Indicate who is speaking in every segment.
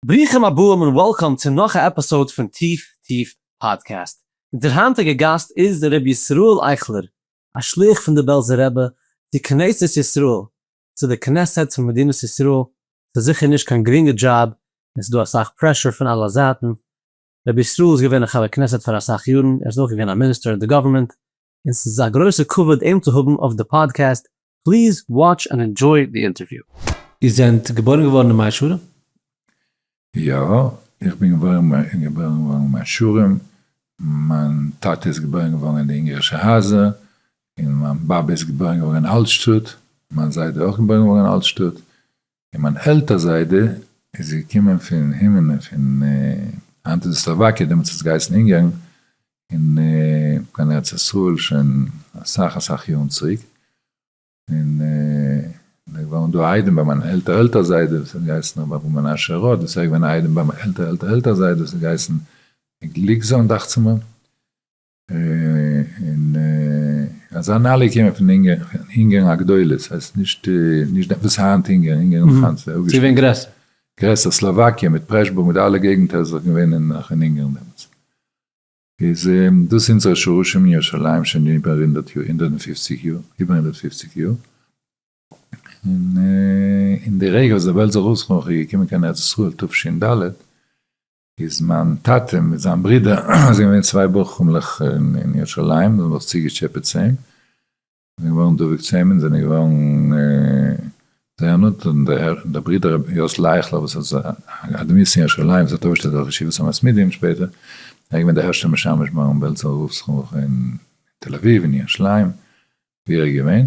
Speaker 1: ברוכים הבאים און וועלקאם צו נאך א עפיסאוד פון טיף טיף פאדקעסט. אונזער היינטיגע גאסט איז ר' ישראל אייכלער, א שליח פון די בעלזער רבי צו כנסת ישראל, צו די כנסת פון מדינת ישראל, ס'איז זיכער נישט קיין גרינגע דזשאב און ס'דא אסאך פרעשור פון אלע זייטן. ר' ישראל איז געווען א חבר כנסת פאר אסאך יארן, ער איז אויך געווען א מיניסטער אין די גאווערמענט, און ס'איז א גרויסע כבוד אים צו האבן אויף די פאדקעסט, פליז וואטש ענד ענדזשוי די אינטערוויו. איר זענט געבוירן געווארן אין מאה שערים?
Speaker 2: יא, איך בין געבוירן געבוירן געווארן אין מאה שערים, מיין טאטע איז געבוירן געווארן אין די אונגערישע הייזער, און מיין באבע איז געבוירן געווארן אין אלטשטאט, מיין זיידע אויך געבוירן געווארן אין אלטשטאט, און מיין עלטער זיידע איז געקומען פון הימנע פון היינט איז עס סלאוואקיע דעמאלטס האט עס געהייסן אונגערן און קיין ארץ ישראל שוין אסאך אסאך יארן צוריק און ער איז געווארן דא א איידעם ביי מיין עלטער עלטער זיידע וואס האט געהייסן רבי אברהם מנשה רוט וואס ער איז געווען א איידעם ביי מיין עלטער עלטער עלטער זיידע וואס האט געהייסן גליקזאהן דאכצעמער. און אזא נעלי קען מען פון אונגערן הגדולות, ס'הייסט נישט וואס היינט אונגערן, אונגערן איז נאך היינט זייער אפגעשטעלט. ס'געווען
Speaker 1: גרעסער. גרעסער, סלאוואקיע
Speaker 2: מיט פרעשבורג מיט אלע געגנטער איז דאך געווען אין נאך אין אונגערן דעמאלטס. איז דאס אונזערע שרשים אין ירושלים שוין איבער הונדערט יאר, הונדערט און פופציג יאר, איבער הונדערט און פופציג יאר. און די רגע וואס די וועלט איז זיך אויסגעקומען, כ'בין געקומען קיין ארץ ישראל תשנ ד, איז מיין טאטע מיט זיין ברודער זענען געווען צוויי בוחרים'לעך אין ירושלים זיי האבן זיך צוגעטשעפעט צו אים און זענען געווארן דבוק צו אים און זענען געווארן זייער נאנט און דער ברודער רבי יוסל אייכלער וואס איז א אדמור צו ירושלים וואס האט אויפגעשטעלט דארט ישיבת המתמידים שפעטער ער איז געווען דער הערשטער משמש מרן בעלזא רב זצוקל אין תל אביב און ירושלים ווי ער איז געווען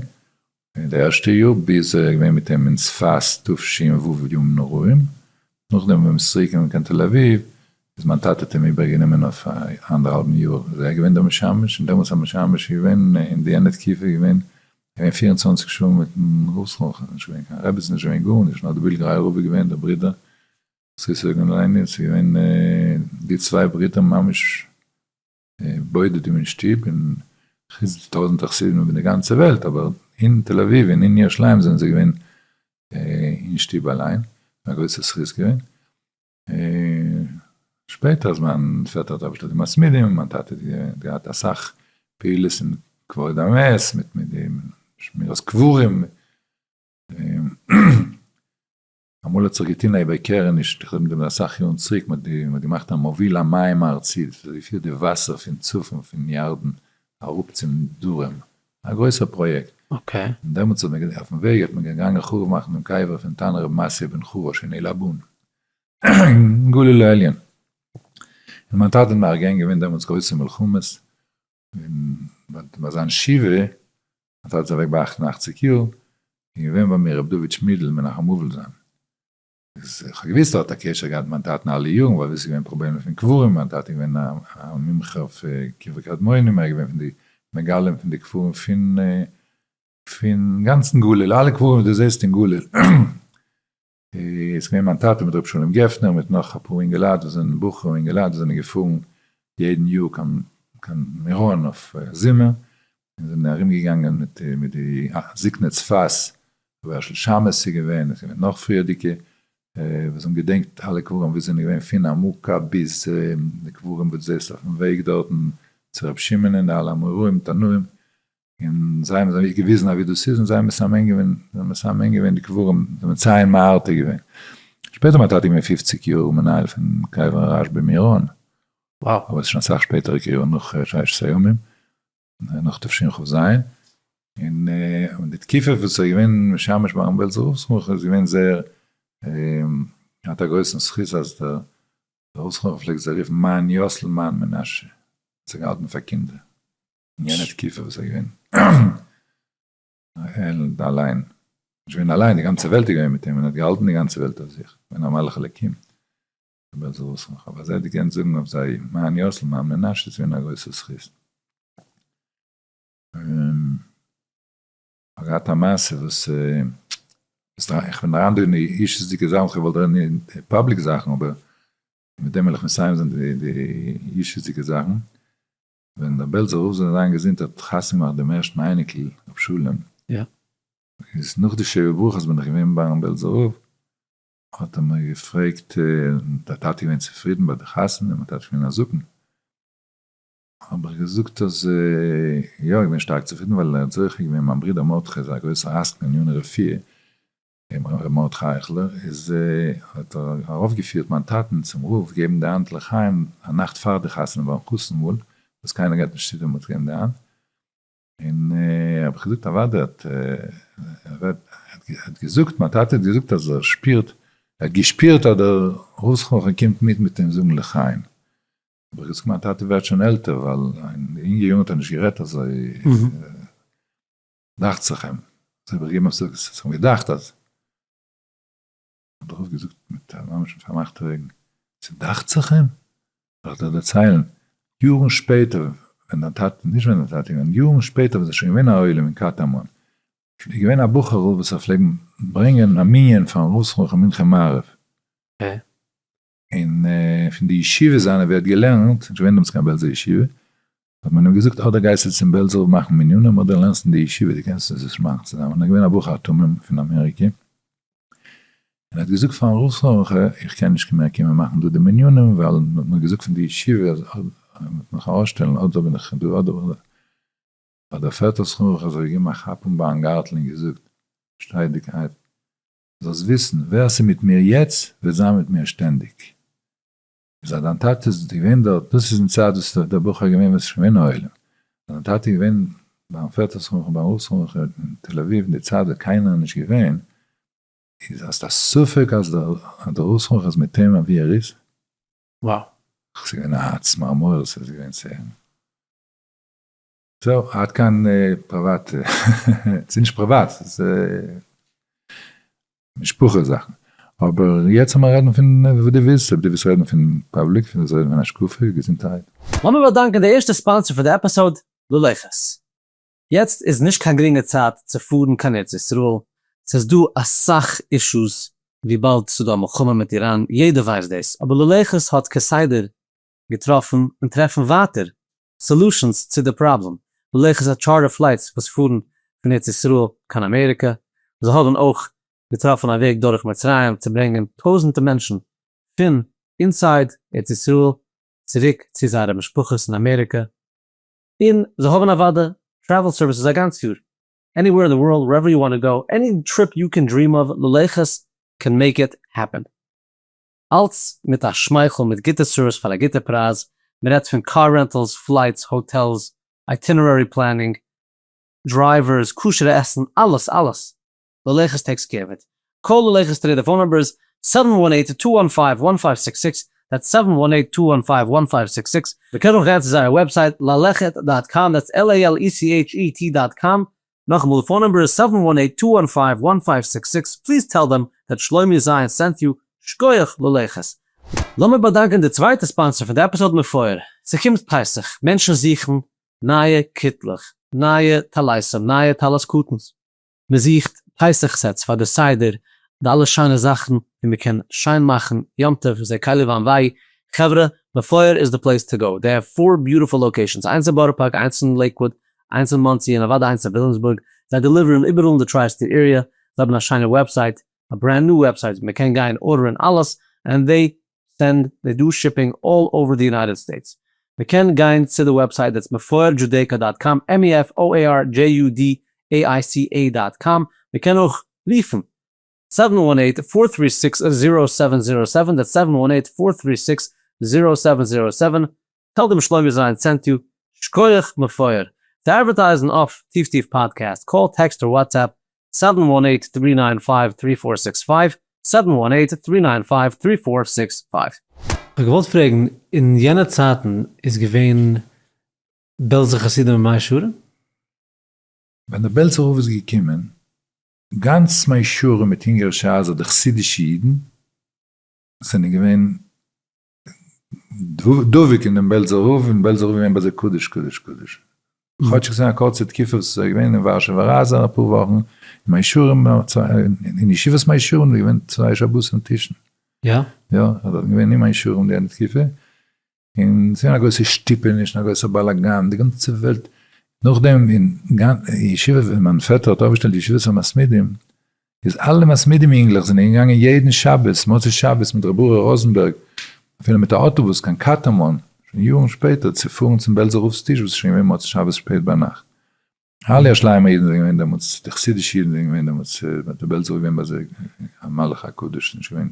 Speaker 2: אין די ערשטע יאר ביז ער איז געווען מיט אים אין צפת תשמ ו ימים נוראים, נאכדעם ווען מען איז צוריק געקומען קיין תל אביב איז מיין טאטע האט אים איבער גענומען אויף א אנדערהאלבן יאר איז ער געווען דער משמש און דעמאלטס א משמש איז געווען אין די יענע תקופה איז געווען געווען פיר און צוואנציג שעה מיטן ראש ל ח נישט געווען קיין רביצין נישט געווען גארנישט נאר די בילגרייער רבי געווען דער ברודער זיסער געווען אליין איז געווען די צוויי ברידער ממש. בודדים אין שטוב און טויזענטער חסידים איבער די גאנצע וועלט אבער אין תל אביב און אין ירושלים זענען זיי געווען אין שטוב אליין, א גרויסע זכות געווען, שפעטער אז מיין פעטער האט אוועק געשטעלט די מסמידים, מיין טאטע האט געהאט אסאך פעולות אין כבוד המת מיט די שמירת קברים. אמאל האט זיך געטוהן א איבערקערעניש, איך דערמאנט מיר אסאך יארן צוריק, מען האט געמאכט א מוביל המים הארצי, דאס איז ווי פירט די וואסער פון צפון פון ירדן אראפ צום דרום, א גרויסע פראיעקט, און דעמאלטס
Speaker 1: האט מען געזעהן אויפן
Speaker 2: וועג אז מען איז געגאנגען חרוב מאכן דעם קבר פון תנא רבי מעשיא בן חרוש אין עילבון אין גליל העליון, און מיין טאטע האט מארגן געווען דעמאלטס גרויסע מלחמות, און ביי זיין שבעה מיין טאטע איז אוועק ביי אַכט און אַכציק יאר איז געווען ביי מיר ר' דוד שמידל מנחם וואלפסאן איז איך האב געוויסט ער האט א קשר געהאט מיט מיין טאטן אלע יארן ווייל ווי עס איז געווען פראבלעמען פון קברים מיין טאטע איז געווען א מומחה אויף קברי קדמונים ער איז געווען פון די מגלים פון די קברים פון פון גאנצן גליל אלע קברים וואס דו זעסט אין גליל. איז געווען מיין טאטע מיט ר' שלום גפנר מיט נאך אפאר אינגעלייט וואס זענען בחור אינגעלייט וואס זענען געפארן יעדן יאר קיין קיין מירון אויף זומער און זענען ארום געגאנגען מיט מיט די זקני צפת רבי הערשל שאמעס איז געווען און עס איז געווען נאך פריערדיגע וואס האבן געדענקט אלע קברים ווי עס זענען געווען פון עמוקה ביז די קברים וואס דו זעסט אויפן וועג דארטן צו ר' שמעון און די אלע אמוראים תנאים און זיי האבן זיי געוויזן אווי דאס איז און זיי מסמן געווען מסמן געווען די קברים מציין מהרטה געווען שפעטער מיין טאטע איז געווען פֿופֿציק יאר מנהל פון קבר הרשב ב מירון אבער עס איז
Speaker 1: שוין אסאך שפעטערע
Speaker 2: יארן נאך ששת הימים נאך תשכ ז און די תקיפה וואס עס איז געווען משמש ביי ארון בעלזער רב סרן איז געווען זייער האט א גרויסן זכות אז דער רב סרן פלעגט זיי רופן מיין יאסל מיין מנשה האט זיי געהאלטן פאר קינדער. אין יענע תקופה וואס איז געווען העלד אליין, נישט געווען אליין, די גאנצע וועלט איז געווען מיט אים, ער האט געהאלטן די גאנצע וועלט אויף זיך, געווען א מלאך אלוקים, אבער זיי וואס איך האב אזוי געקענט זאגן אויף זיי מה אני עושה למען בני מנשה איז געווען א גרויסע זכות. כ'האב געהאט א מעשה וואס איך בין אריין דא אין אישיות'דיגע זאכן, כ'וואלט רעדן אין פאבליק זאכן אבער מיט דעם וועל איך מסיים זיין די אישיות'דיגע זאכן, ווען דער בעלזער רב זאל זיין געזונט האט חתונה געמאכט דעם ערשטן אייניקל ר' שלום, איז נאך די שבע ברכות בין
Speaker 1: איך
Speaker 2: געווען ביים בעלזער רב, האט ער מיר געפרעגט, דער טאטע איז געווען צופרידן ביי די חתונה, מיין טאטע איז געווען א זקן, האב איך געזאגט אז יא, איך בין שטארק צופרידן, ווייל ער האט זוכה געווען מיין ברודער מרדכי איז א גרויסער עסקן אין יאנער רפואה, רבי מרדכי אייכלער איז האט ארויף געפירט מיין טאטען צום רב געבן די האנט לחיים א נאכט פאר די חתונה ביים חתן מאל וואס קיינער גייט נישט צו דעם האט געבן די האנט און האב איך געזאגט אוודאי האט האט געזאגט מיין טאטע האט געזאגט אז ער שפירט ער האט געשפירט אז דער רב זכרונו לברכה קומט מיט מיט אים זאגן לחיים האב איך געזאגט מיין טאטע ווערט שוין עלטער ווייל אין די יונגע יארן האט ער נישט גערעדט אזוי. דאכט זיך אים, זיי האב איך געגעבן אפסאג, עס האט זיך אים געדאכט אז, דערנאך האט ער געזאגט מיט א ממש מיט פארמאכטע אויגן, ס'דאכט זיך אים? זאל איך דיר דערציילן, יארן שפעטער ווען דיין טאטע, נישט ווען דיין טאטע, נאר יארן שפעטער ווען ס'איז שוין געווען א עולם אין קטמון, איז געווען א בחור'ל וואס האט פלעגן ברענגען א מנין פארן ראש ח ל מנחה מעריב, ע
Speaker 1: און
Speaker 2: פון די ישיבה זיינע ווי ער האט געלערנט, נישט געווען דאמאלס קיין בעלזער ישיבה, האט מען אים געזאגט אדער גייסטו צום בעלזער רב מאכן מנינים אדער לערנסט אין די ישיבה, דו קענסט עס נישט מאכן צוזאמען, ער איז געווען א בחור א תמים פון אמעריקע, און ער האט געזאגט פארן רב סרולנקע איך קען נישט מער קומען מאכן דא די מנינים ווייל מען האט מיר געזאגט פון די ישיבה אז מען וועט מיך ארויסשטעלן אדער בין איך דא אדער בין איך דא, האט דער פעטער סרולנקע זיך געגעבן א כאפ אין בארנגארטל און געזאגט שטיידיגקייט זאלסט וויסן, ווער ס'איז מיט מיר יעצט, וועט זיין מיט מיר שטענדיג. איז אז דיין טאטע איז געווען דארט, דאס איז אין צייט וואס איז דער בחור געווען וואס איז שוין געווען עולם, אז דיין טאטע איז געווען ביים פעטער שמחה, ביים רב שמחה אין תל אביב אין די צייט ווען קיינער איז נישט געווען, איז האסט א ספק אז דער רב שמחה איז מיט אים אווי ער איז? וואו?
Speaker 1: ס'איז געווען
Speaker 2: א צמרמורת, ס'איז געווען צער. זהו, עד כאן פריוואט, ס'איז נישט פריוואט, ס'איז משפחה זאכן, אבער יעצט לאמיר רעדן פון וואס דו ווילסט, אויב דו ווילסט רעדן פון פאבליק, דו ווילסט רעדן פון השקפה, געזונטהייט. לאמיר באדאנקען די
Speaker 1: ערשטע ספאנסער פון די עפיסאוד, לולי ח'ס. יעצט איז נישט קיין גרינגע צייט צו פארן קיין ארץ ישראל, ס'איז דא אסאך אישוס וויבאלד ס'דא א מלחמה מיט איראן, יעדער ווייסט דאס, אבער לולי ח'ס האט כסדר געטראפן און טרעפן ווייטער סעלושענס צו די פראבלעם, לכה פ טשארטער פלייטס וואס פארן פון ארץ ישראל קיין אמעריקע, זיי האבן אויך געטראפן א וועג דורך מצרים צו ברענגען טויזענטע מענטשן פון אינסייד ארץ ישראל צוריק צו זייערע משפחות אין אמעריקע, און זיי האבן אוודאי טרעוועל סערוויסעס א גאנץ יאר, עני וועיר אין די ווארלד ווערעווער יו וואנט טו גאו, עני טריפ יו קען דריעם אוו, ללכת קען מעיק איט העפען. אלץ מיט א שמייכל מיט גוטע סערוויס פאר א גוטע פרייז, מען רעדט פון קאר רענטעלס, פלייטס, האטעלס, אייטינערערי פלענינג, דרייווערס, כשר'ע עסן, אלעס אלעס! ללכת טעקס געבעט, קאל ללכת טרעיד די פאון נומבער איז סעווען וואן אייט טו וואן פייוו וואן פייוו סיקס סיקס, דעטס סעווען וואן אייט טו וואן פייוו וואן פייוו סיקס סיקס, מען קען אויך גיין צו זייער וועבסייט ללכת דאט קאם, דעטס LALECHET דאט קאם, נאכאמאל די פאון נומבער איז סעווען וואן עיט טו וואן פייוו וואן פייוו סיקס סיקס, פליז טעל דעם דעט שלומי זיין סענט יו, שקויעך ללכת. לאמיר באדאנקען די צווייטע ספאנסער פון די עפיזאד מפואר, ס'קומט פסח, מענטשן זוכן נייע קיטלעך, נייע טליתים, נייע טלית קטן'ס, מ'זוכט פסח סעטס פאר די סדר, די אלע שיינע זאכן ווי מ'קען שיין מאכן יום טוב, זעה כלי לבן וויי, חברה, מפואר איז די פלעיס טו גאו, דעי העוו פאר ביוטיפול לאקעישאנס, איינס אין בארא פארק, איינס אין לעיקוואד, איינס אין מאנסי און אוודאי איינס אין וויליאמסבורג, זיי דעליווערן איבעראל אין די טריי סטעיט עריע, זיי האבן א שיינע וועבסייט, א ברענד ניו וועבסייט ווי מען קען גיין ארדערען אלעס, ענד זיי סענד, זיי דא שיפינג אלל אווער די יונייטעד סטעיטס, מען קען גיין צו די וועבסייט דעטס מפואר דזשודעיקא דאט קאם, MeFoirJudaica דאט קאם, מען קען אויך רופן זיבן וואן אייט פאר טרי סיקס זירא סעווען זירא סעווען, דעטס זיבן וואן אייט פאר טרי סיקס זירא סעווען זירא סעווען, טאג דעם שלומי זיין צענטו שקויעך מפואר צו אדווערטייזן אויף טיף טיף פאדקעסט קאל טעקסט אר וואטסעפפ סעווען וואן עיט טרי ניין פייוו טרי פאר סיקס פייוו סעווען וואן עיט טרי ניין פייוו טרי פאר סיקס פייוו. כ'האב געוואלט פרעגן, אין יענע צייטן איז געווען בעלזע חסידים אין מאה שערים? ווען
Speaker 2: דער בעלזער רב איז געקומען, גאנץ מאה שערים מיט אונגארישע הייזער די חסידישע אידן זענען געווען דבוק אין דעם בעלזער רב, און בעלזער רב איז געווען ביי זיי קדוש קדוש קדוש. כאטש ס'איז געווען א קורצע תקופה וואס עס איז געווען אין ווארשעווער רייזע אפאר וואכן, אין מי שרים, אין ישיבת מי שרים איז געווען צוויי שבתים טישן. יא? יא,
Speaker 1: ער איז געווען
Speaker 2: אין מי שרים די ענדע תקופה, און ס'איז געווען א גרויסע שטופעניש און א גרויסער באלאגאן, די גאנצע וועלט, נאכדעם אין ישיבה ווען מיין פעטער האט אויפגעשטעלט ישיבת המתמידים, איז אלע מסמידים אינגלעך זענען געגאנגען יעדן שבת מוצאי שבת מיט ר' אורי ראזענבערג אפילו מיט א אוטובוס קיין קאטאמאן שוין יארן שפעטער צו פארן צום בעלזער רב'ס טיש וואס איז שוין געווען מוצאי שבת שפעט ביינאכט אלע ירושלימ'ער אידן זענען געווען דעמאלטס די חסידישע אידן זענען געווען דעמאלטס האט די בעלזער געווען ביי זיי א מלאך הקדוש ס'איז נישט געווען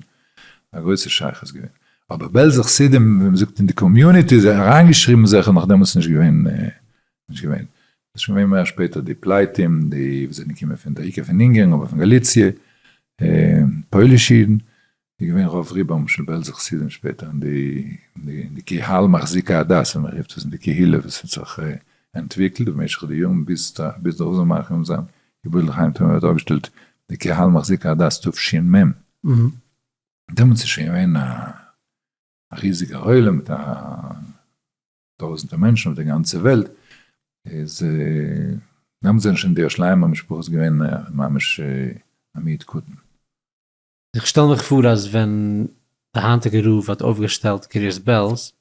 Speaker 2: א גרויסע שייכות געווען אבער בעלזע חסידים ווי מ'זאגט אין די קאמיוניטי אריינגעשריבן זעכער נאך דעמאלטס נישט געווען. נישט געווען. ס'איז שוין געווען מער שפעטער די פלייטים, די וואס זענען געקומען פון די עיקר פון אונגערן אבער פון גאליציע, פוילישע אידן, איז געווען רוב רובם של בעלזע חסידים שפעטער אין די אין די קהל מחזיקי הדת ווי מ'רופט עס, אין די קהילה וואס האט זיך אנטוויקלט במשך די יארן ביז ביז די רוזן מארק און זיין געבורט לחיים טויב מ'האט אויפגעשטעלט די קהל מחזיקי הדת תשס מ, דעמאלטס איז שוין געווען א ריזיגער עולם מיט א. טויזענטער מענטשן אויף די גאנצע וועלט, איז דעמאלטס זענען שוין די שלייער משפחות געווען ממש א מיעוט קטן. איך
Speaker 1: שטעל מיך פאר אז ווען די היינטיגע רב האט אויפגעשטעלט קרית בעלז,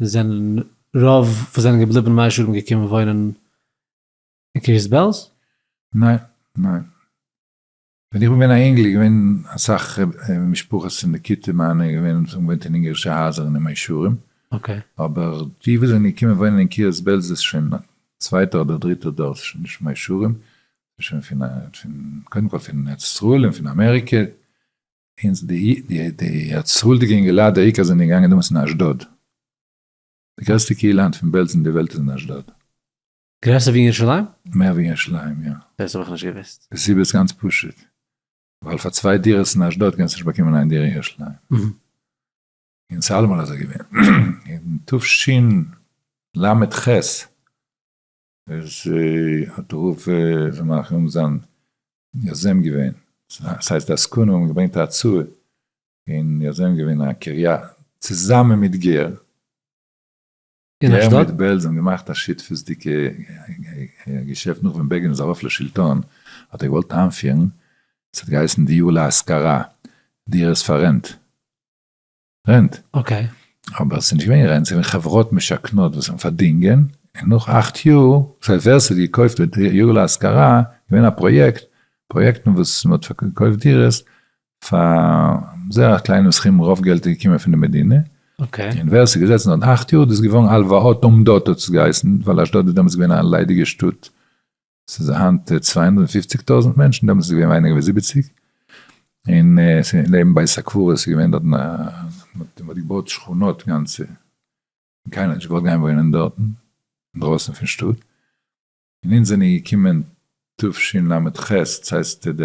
Speaker 1: זענען רוב וואס זענען געבליבן מאה שערים געקומען וואוינען אין קרית בעלז? ניין,
Speaker 2: ניין. ווען איך בין געווען א אינגל איז געווען אסאך משפחות אין די כיתה מיינע איז געווען האבן געוואוינט אין אונגערישע הייזער אין די מאה שערים, אבער
Speaker 1: די וואס
Speaker 2: זענען געקומען וואוינען אין קרית בעלז איז שוין צווייטע אדער דריטע דור ס'איז שוין נישט מאה שערים ס'איז שוין פון א פון קודם כל פון ארץ ישראל און פון אמעריקע אונז די די ארץ ישראל'דיגע אינגעלייט די עיקר זענען געגאנגען דעמאלטס אין אשדוד די גרעסטע קהילה היינט פון בעלז אין די וועלט איז אין אשדוד. גרעסער ווי
Speaker 1: ירושלים? מער
Speaker 2: ווי ירושלים
Speaker 1: יא. דאס האב איך נישט געוואוסט. די
Speaker 2: סיבה איז גאנץ פשוט, ווייל פאר צוויי דירות אין אשדוד קענסטו נישט באקומען איין דירה אין ירושלים. און ס'איז אלעמאל אזוי געווען. אין תשנ ל ח איז האט הרב זאל מיין רחמים זיין יוזם געווען, ס'הייסט די עסקנים האבן געברענגט א הצעה און יוזם געווען א קריה צוזאמען מיט גער,
Speaker 1: אין אשדוד? ער מיט בעלז האבן געמאכט א
Speaker 2: שותפות'דיגע געשעפט נאך ווען בעגין איז ארויף לשלטון האט ער געוואלט איינפירן, עס האט געהייסן דיור להשכרה, דירות פאר רענט, רענט. אקעי.
Speaker 1: אבער עס איז נישט געווען
Speaker 2: רענט, עס איז געווען חברות משכנות וואס האבן פארדינגען, און נאך אכט יאר, דאס הייסט ווער עס האט געקויפט דיור להשכרה, געווען א פראיעקט, פראיעקטן וואס מען האט געקויפט דירות, פאר זייער א קליינעם סכום רוב געלט איז געקומען פון די מדינה, און ווער עס איז
Speaker 1: געזעצן דארט
Speaker 2: אכט יאר דאס איז געווארן הלוואות עומדות האט עס געהייסן, ווייל אשדוד איז דעמאלטס געווען א ליידיגע שטאט, ס'איז היינט צוויי הונדערט און פופציג טויזנט מענטשן דעמאלטס איז געווען ווייניגער ווי זיבעציג, און נעבן בית הקברות איז געווען דארטן א מ'האט געבויט שכונות גאנצע, און קיינער האט נישט געוואלט גיין וואוינען דארטן, אינדרויסן פון שטאט. און אונז זענען געקומען תשנ ל ח, דאס הייסט די,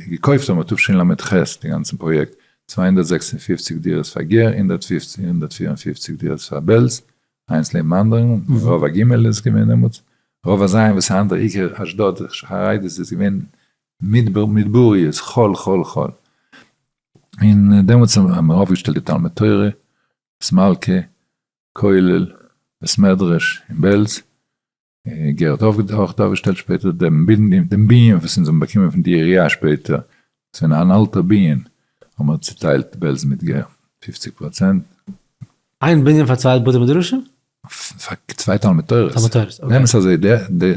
Speaker 2: געקויפט האבן מיר תשנ ל ח די גאנצן פראיעקט, צוויי הונדערט זעקס און פֿופֿציק דירות פאר גער, הונדערט פֿופֿצן, הונדערט פֿיר און פֿופֿציק דירות פאר בעלז, איינס לעבן אנדערן, און רוב א ג איז געווען דעמאלטס, רוב א ז וואס איז היינט דער עיקר אשדוד חרדי'ס איז געווען מדבר מדבריות, חול חול חול. און דעמאלטס האבן מיר אויפגעשטעלט די תלמוד תורה, סמלקע, כולל, בית מדרש אין בעלז, גערט האף האט אויך אויפגעשטעלט שפעטער דעם בנין וואס אונז האבן באקומען פון די עירייה שפעטער, עס איז אן אלטער בנין, האבן מיר צוטיילט בעלז מיט גער פופציג פראצענט.
Speaker 1: איין בנין פאר צוויי בתי מדרשים? פאר צוויי
Speaker 2: תלמוד תורה'ס. תלמוד תורה'ס, אקעי. נעם עס אזוי,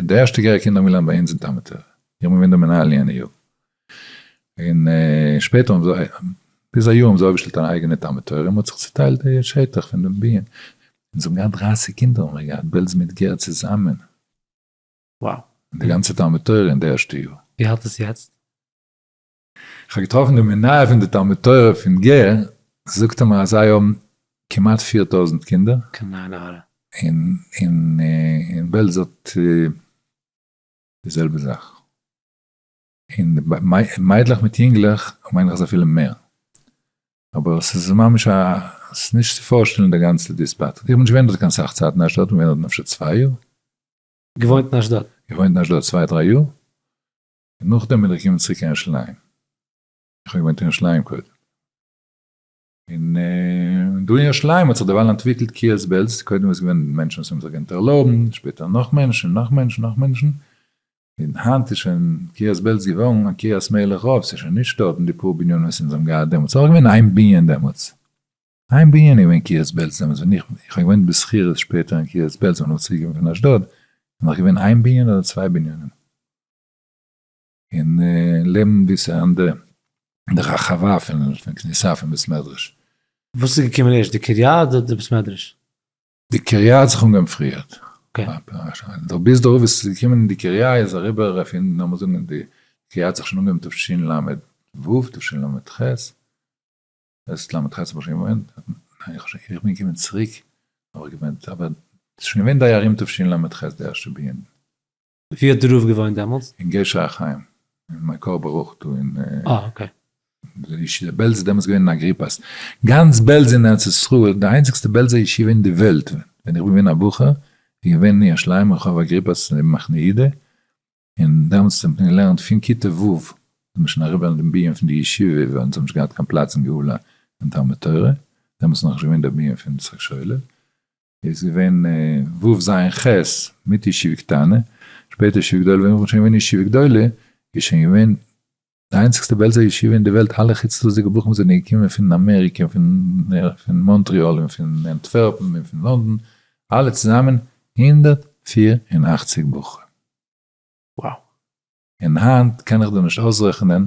Speaker 2: די ערשטע גערער קינדער האבן געלערנט ביי אונז אין תלמוד תורה, איך בין געווען דער מנהל יענע יאר. און שפעטער האבן זיי, ביז א יאר האבן זיי אויפגעשטעלט אן אייגענע תלמוד תורה און מען האט זיך צוטיילט די שטח פון דעם ביהמ ד, זיי האבן געהאט דרייסיג קינדער האבן מיר געהאט בעלז מיט גער צוזאמען,
Speaker 1: די גאנצע
Speaker 2: תלמוד תורה אין די ערשטע יאר. ווי האלט עס יעצט? איך האב געטראפן די מנהל פון די תלמוד תורה פון גער, זאגט ער מיר אז זיי האבן כמעט פֿיר טויזנט קינדער,
Speaker 1: און
Speaker 2: בעלז האט די זעלבע זאך. און מיידלעך מיט יונגלעך מיין איך איז אפילו מער. אבער ס'איז ממש א, ס'איז נישט צו פארשטעלן די גאנצע דיספארט. איך בין נישט געווען דארט קיין סאך צייט אין אשדוד, כ'בין געווען דארט אפשר צוויי יאר. געוואוינט
Speaker 1: אין אשדוד? געוואוינט אין אשדוד צוויי דריי
Speaker 2: יאר, און נאכדעם בין איך געקומען צוריק קיין ירושלים. איך האב געוואוינט אין ירושלים קודם. און דא אין ירושלים האט זיך דערווייל אנטוויקלט קיעלס בעלז, קודם איז געווען מענטשן וואס האבן זיך געקענט ערלויבן, שפעטער נאך מענטשן, נאך מענטשן, נאך מענטשן, און היינט איז שוין קיעלס בעלז געווארן א קריית מלך רב, ס'איז שוין נישט דארטן די פאר בנינים וואס אונז האבן געהאט דעמאלטס, ס'איז נאך געווען איין בנין דעמאלטס, איין בנין איז געווען קיעלס בעלז דעמאלטס ווען איך, איך האב געוואוינט בשכירות שפעטער אין קיעלס בעלז ווען איך בין צוריק געווען פון אשדוד, איז נאך געווען איין בנין אדער צוויי בנינים. און לערנען געוויסע אנדערע די רחבה פון כניסה פון בית מדרש. וואס איז געקומען
Speaker 1: ערשט די קריה אדער די בית מדרש? די קריה
Speaker 2: האט זיך אנגעהויבן פריער.
Speaker 1: דער ביז
Speaker 2: דערויף וואס איז געקומען אין די קריה איז אריבער אויף אונז, לאמיר זאגן די קריה האט זיך שוין אנגעהויבן תשל ל ו, תשל ל ח, ס ל ח האב איך שוין געוואוינט, ניין איך שוין, איך בין געקומען צוריק האב איך געוואוינט, אבער ס'איז שוין געווען די ארום תשל ל ח די ערשטע בנין. ווי האט די רב
Speaker 1: געוואוינט דעמאלטס? אין גשר החיים,
Speaker 2: אין מקור ברוך דא
Speaker 1: אין. אה אקעי.
Speaker 2: בעלז איז דעמאלטס געווען אין אגריפס. גאנץ בעלז אין ארץ ישראל, די איינציגסטע בעלזער ישיבה אין די וועלט, ווען איך בין געווען א בחור, איז געווען אין יש ליימער רחוב אגריפס נעבן מחנה יהודה, און דעמאלטס האט מען געלערנט פון כיתה ו' איז מען שוין אריבער אין דעם ביהמ ד פון די ישיבה, ווייל אונז האב נישט געהאט קיין פלאץ אין גאולה פון תלמוד תורה, דעמאלטס איז נאכנישט געווען דער ביהמ ד פון יצחק שולער, איז געווען ו' ז' ח' מיט ישיבה קטנה, שפעטער ישיבה גדולה, ווען איך בין שוין געווען אין ישיבה גדולה, איז שוין געווען די איינציגסטע בעלזא ישיבה אין די וועלט, אלע חוץ לאזיגע בחורים זענען געקומען פון אמעריקע, פון מאנטריאל, און פון אנטווערפן, און פון לאנדאן, אלע צוזאמען הונדערט פֿיר און אַכציק בחורים. וואו! און היינט קען איך דיר
Speaker 1: נישט
Speaker 2: אויסרעכענען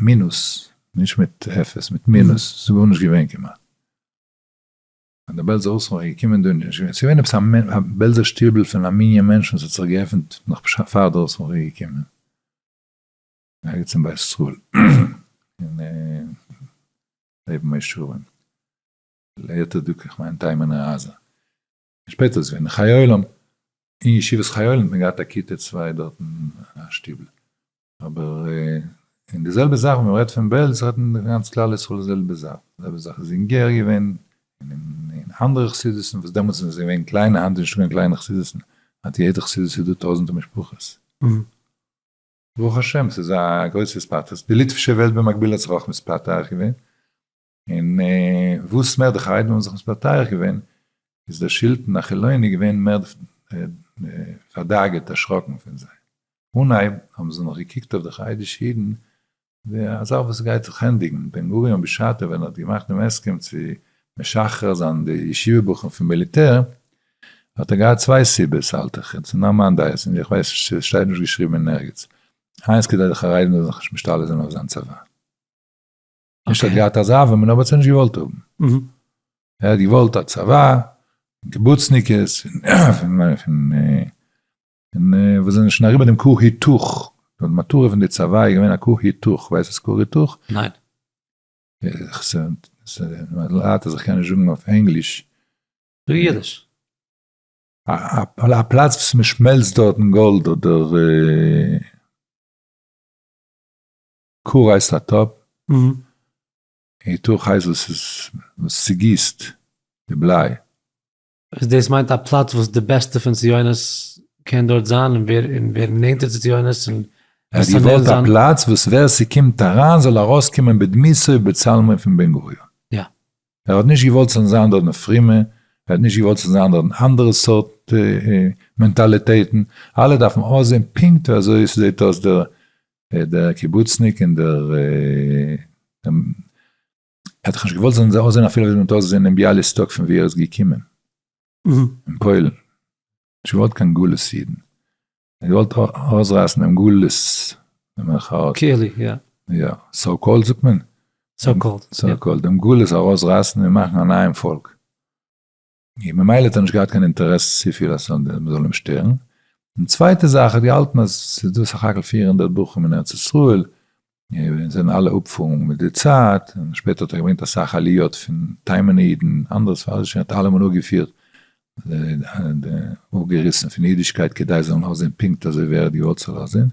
Speaker 2: מינוס, נישט מיט אפס, מיט מינוס, ס'איז גארנישט געווען כמעט. ווען די בעלזע אויסרייער איז געקומען דא, ס'איז געווען עפעס א בעלזער שטיבל פון א מנין מענטשן וואס האט זיך געעפנט נאך בשעת פאר די אויסרייער איז געקומען, ערגעץ אין בית ישראל, אין לעבן מי שרים, ליתר דיוק איך מיין תימן עזה, שפעטער איז געווען חיי עולם, אין ישיבת חיי עולם האט מען געהאט א כיתה צוויי דארט אין א שטיבל, אבער אין די זעלבע זאך ווען מען רעדט פון בעלז רעדט מען גאנץ כלל ישראל די זעלבע זאך, די זעלבע זאך איז אין גער געווען, אין אנדערע חסידות'ן וואס דעמאלטס איז געווען קליינע היינט איז נישט קיין קליינע חסידות'ן, היינט אין יעדע חסידות איז דא טויזענטער משפחות, ברוך השם ס'איז א גרויסע ספארטאס, די ליטווישע וועלט במקביל האט זיך אויך מספתח געווען, און וואס מער די חרדים האבן זיך מטייח געווען, איז דער שלטון החילוני געווען מער פארדאגה'ט, דערשראקן פון זיי. אנהייב האבן זיי נאך געקוקט אויף די חרדישע אידן ווי א זאך וואס גייט זיך ענדיגן. בן גוריון בשעתו ווען ער האט געמאכט דעם הסכם צו משחרר זיין די ישיבה בחורים פון מיליטער, האט ער געהאט צוויי סיבות האלט איך, און ס'נאר מיין דעה, און איך ווייס נישט, ס'שטייט נישט געשריבן אין ערגעץ. איינס כדי די חרדים זאלן זיך נישט משתלט זיין אויף זיין צבא. נישט ער האט געהאט אזא וועמען אבער ער האט נישט געוואלט האבן. ער האט געוואלט א צבא, קיבוצניקעס, וואס זענען שוין אריבער דעם כור היתוך, די מטרה פון די צבא איז געווען א כור היתוך, ווייסט וואס כור היתוך?
Speaker 1: ניין.
Speaker 2: מ'ליידט אז איך קען נישט זאגן אויף ענגליש. זאג אידיש. א פלאץ וואס מ'שמעלצט דארטן גאלד אדער. קו הייסט א טאפ, און תוך הייסט וואס איז וואס צוגיסט די בליי. איז דאס
Speaker 1: מיינט א פלאץ וואס די בעסטע פון ציונות קען דארט זיין און ווער און ווער נענטער צו ציונות און עס זאל נענער זיין. ער האט געוואלט א
Speaker 2: פלאץ וואס ווער ס'קומט אריין זאל ארויסקומען בדמותו ובצלמו פון בן גוריון. יא.
Speaker 1: ער האט נישט געוואלט
Speaker 2: ס'זאלן זיין דארט נאר פרומע, ער האט נישט געוואלט ס'זאלן זיין דארט אנדערע סארט מענטאליטעטן, אלע דארפן אויסזען פונקט ווי אזוי ס'זעט אויס דער דער קיבוצניק און דער ער האט דאך נישט געוואלט זאלן זיי אויסזען אפילו ווי מען האט אויסגעזען אין ביאליסטאק פון ווי ער איז געקומען, אין פוילן, נישט געוואלט קיין גלות אידן, ער האט געוואלט אויסרייסן דעם גלות במרכאות, קעלי,
Speaker 1: יא. יא, סאו
Speaker 2: קאלד זאגט מען? סאו
Speaker 1: קאלד, יא.
Speaker 2: סאו קאלד, דעם גלות ארויסרייסן און
Speaker 1: מאכן א
Speaker 2: נייעם פאלק. און ממילא האט ער נישט געהאט קיין אינטערעס צופיל אז מ'זאל אים שטערן, און צווייטע זאך ער האט געהאלטן אז ס'איז דא סך הכל פֿיר הונדערט בחורים אין ארץ ישראל, און זיי וועלן אלע אפפארן מיט די צייט, און שפעטער האט ער געברענגט אסאך עליות פון תימן'ע אידן, אנדערע ספרדישע, האט אלעמען אפגעפירט, אפגעריסן פון אידישקייט כדי זיי זאלן אויסזען פונקט אזוי ווי ער האט געוואלט ס'זאל אויסזען,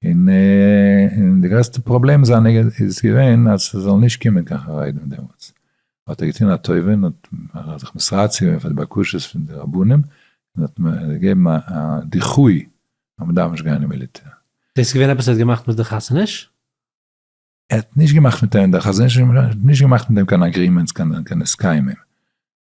Speaker 2: און די גרעסטע פראבלעם זיינע איז געווען אז ס'זאל נישט קומען קיין חרדים דעמאלטס, האט ער געטון א טובה און האט זיך מסרצה געווען פאר די בקשות פון די רבנים, און האט געגעבן א דיחוי אז מ'דארף נישט גיין אין מיליטער. דאס איז געווען עפעס ער האט
Speaker 1: געמאכט מיט די חתונות?
Speaker 2: ער האט נישט געמאכט מיט אים, דער חזון איש האט נישט געמאכט מיט אים קיין אגרימענטס, קיין הסכמים,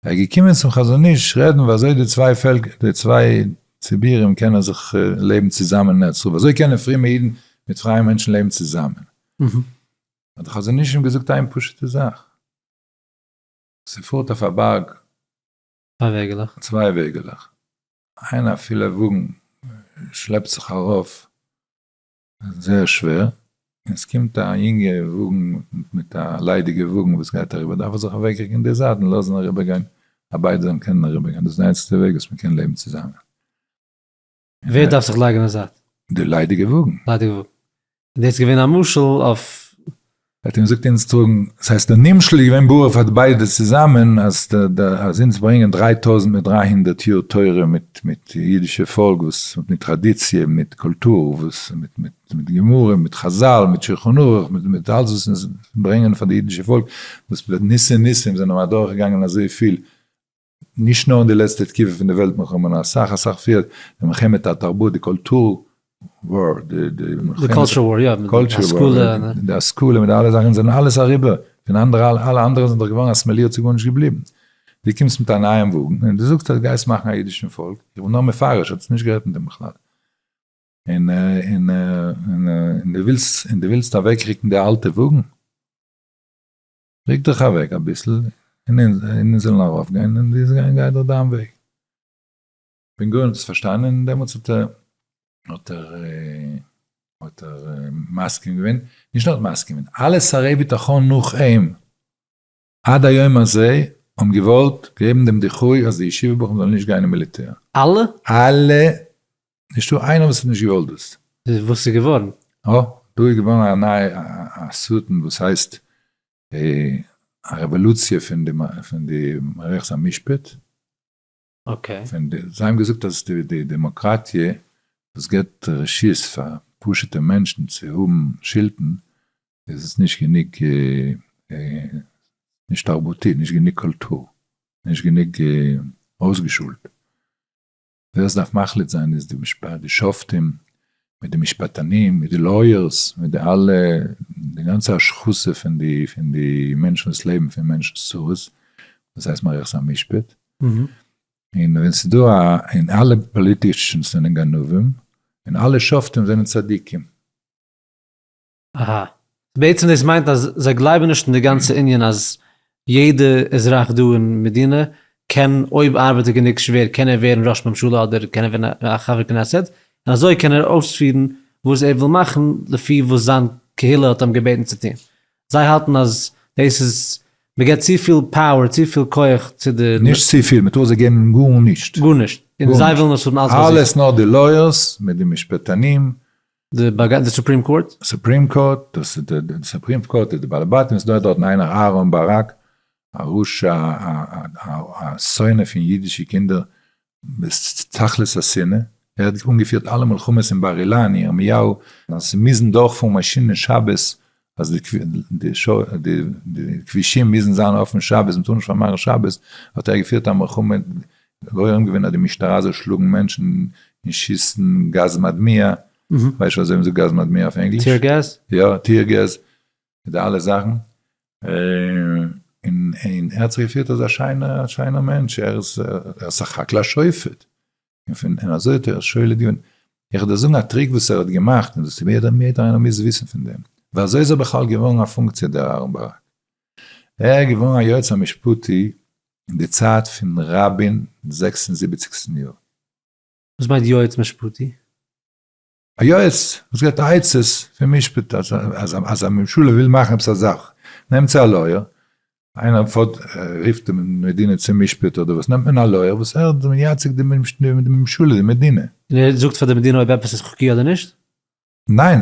Speaker 2: ער איז געקומען צום חזון איש רעדן ווי אזוי די צוויי פעלקער, די צוויי ציבורים קענען זיך לעבן צוזאמען אין ארץ ישראל, ווי אזוי קענען פרומע אידן מיט פרייע מענטשן לעבן צוזאמען, האט דער חזון איש אים געזאגט איין פשוט'ע זאך, ס'פארט אויף א בארג צוויי וועגעלעך, איין א פילע וואגן שלעפט זיך ארויף זייער שווער, און ס'קומט א יונגע וואגן מיט א ליידיגע וואגן וואס גייט אריבער דארף ער זיך אוועקריקן אין די זייט און לאזן אריבערגיין אז ביידע זאלן קענען אריבערגיין, דאס איז די איינציגסטע וועג וואס מ'קען לעבן צוזאמען.
Speaker 1: ווער דארף זיך לייגן אין די זייט? די ליידיגע וואגן.
Speaker 2: ליידיגע וואגן.
Speaker 1: און דאס איז געווען א משל אויף האט אים געזאגט
Speaker 2: אונז טראגן, דאס הייסט דער נמשל איז געווען ברור פאר ביידע צוזאמען אז אונז ברענגען דריי טויזנט מיט דריי הונדערט יאר תורה מיט מיט אידישע פאלק וואס מיט טראדיציע מיט קולטור וואס מיט מיט מיט גמרא מיט חזל מיט שולחן ערוך מיט מיט אלס וואס אונז ברענגען פאר די אידישע פאלק וואס ניסי ניסים זענען אדורכגעגאנגען אזויפיל נישט נאר אין די לעצטע תקופה פון די וועלט מלחמה נאר אסאך אסאך פריער, די מלחמת התרבות, די קולטור וואר,
Speaker 1: די
Speaker 2: השכלה מיט אלע זאכן זענען אלעס אריבער, פון אנדערע אלע אנדערע זענען דאך געווארן אסמעלירט ס'איז גארנישט געבליבן, דו קומסט מיט א נייעם וואגן און דו זאגסט אז גייסט מאכן א אידישן פאלק, איך בין נאר מפרש, האט עס נישט גערעדט מיט דעם בכלל, און און און און דו ווילסט און דו ווילסט אוועקריקן די אלטע וואגן? ריק דיך אוועק אביסל און אונז זאלן ארויף גיין און די זאלסט גיין דיך דיין וועג. בן גוריון האט עס פארשטאנען און דעמאלטס האט ער האט ער האט ער מסכים געווען, נישט נאר מסכים געווען, אלע שרי ביטחון נאך אים עד היום הזה האבן געוואלט געבן דעם דיחוי אז די ישיבה בחורים זאלן נישט גיין אין מיליטער. אלע? אלע נישטא איינער וואס האט נישט געוואלט דאס. וואס איז געווארן?
Speaker 1: אה, דא איז
Speaker 2: געווארן א נייע א סרטון וואס הייסט א רעוואלוציע פון די פון די מערכת המשפט. אקעי.
Speaker 1: פון די, זיי האבן
Speaker 2: געזאגט אז די די דעמאקראטיע וואס געבט רשות פאר פשוט'ע מענטשן צו האבן שלטון, איז נישט גענוג נישט תרבותי, נישט גענוג קולטור, נישט גענוג אויסגעשולט. ווער עס דארף מחליט זיין איז די משפט די שופטים מיט די משפטנים מיט די לויערס מיט די אלע די גאנצע השחתה פון די פון די מענטשן וואס לעבן פון מענטשן'ס צרות דאס הייסט מערכת המשפט און ווען ס'איז דא א און אלע פאליטישאנס זענען גנבים און אלע שופטים זענען צדיקים.
Speaker 1: אהא. בעצם דאס מיינט אז זיי גלייבן נישט אין די גאנצע ענין אז יעדע אזרח דא אין מדינה קען אויב ארבעט ער גענוג שווער קען ער ווערן ראש ממשלה אדער קען ער ווערן א חבר כנסת און אזוי קען ער אויספירן וואס ער וויל מאכן לפי וואס זיין קהילה האט אים געבעטן צו טון. זיי האלטן אז דאס איז מ'געט צופיל פאוער צופיל כח צו די. נישט צופיל, מ'טאר זיי
Speaker 2: געבן גארנישט. גארנישט. און זיי
Speaker 1: ווילן עס האבן אלץ ביי זיך. אלעס נאר די
Speaker 2: לויערס מיט די משפטנים די בג די
Speaker 1: סופרים קאורט? סופרים קאורט, דאס
Speaker 2: איז די די סופרים קאורט איז די בעל הבתים, עס דא דארטן איינער אהרן באראק, א רשע א א א א שונא פון אידישע קינדער ביז תכלית השנאה, ער האט אנגעפירט אלע מלחמות אין בר אילן, ירמיהו, אז ס'מוזן דורכפארן מאשינען שבת אז די כבישים מוזן זיין אפען שבת, מען טאר נישט פארמאכן שבת, האט ער געפירט א מלחמה, גורם געווען אז די משטרה זאל שלאגן מענטשן און שיסן גאז מדמיע, ווייסט וואס זאגן זיי גאז מדמיע אויף ענגליש? טיער געז? יא, טיער
Speaker 1: געז,
Speaker 2: מיט די אלע זאכן, און ער האט זיך געפירט אזא שיינער מענטש, ער איז סך הכל א שופט, און און אזוי האט ער שולע געווען. איך וועל דיר זאגן א טריק וואס ער האט געמאכט און דאס ווער דער יעדער איינער מוז וויסן פון דעם. ווי אזוי איז ער בכלל געווארן א פונקציע דער אהרן ברק? ער איז געווארן א יועץ המשפטי אין די צייט פון רבין זעקס און זיבעציגסטן יאר. וואס מיינט
Speaker 1: יועץ משפטי? א
Speaker 2: יועץ וואס געבט עצות פון משפט, אז א ממשלה וויל מאכן עפעס א זאך, נעמט זי א לויער, איינער פארט רופט די מדינה צום משפט אדער וואס, נעמט מען א לויער וואס ער איז מייצג די ממשלה, די מדינה. און ער זאגט פאר די מדינה
Speaker 1: אויב עפעס איז חוקי אדער נישט? ניין,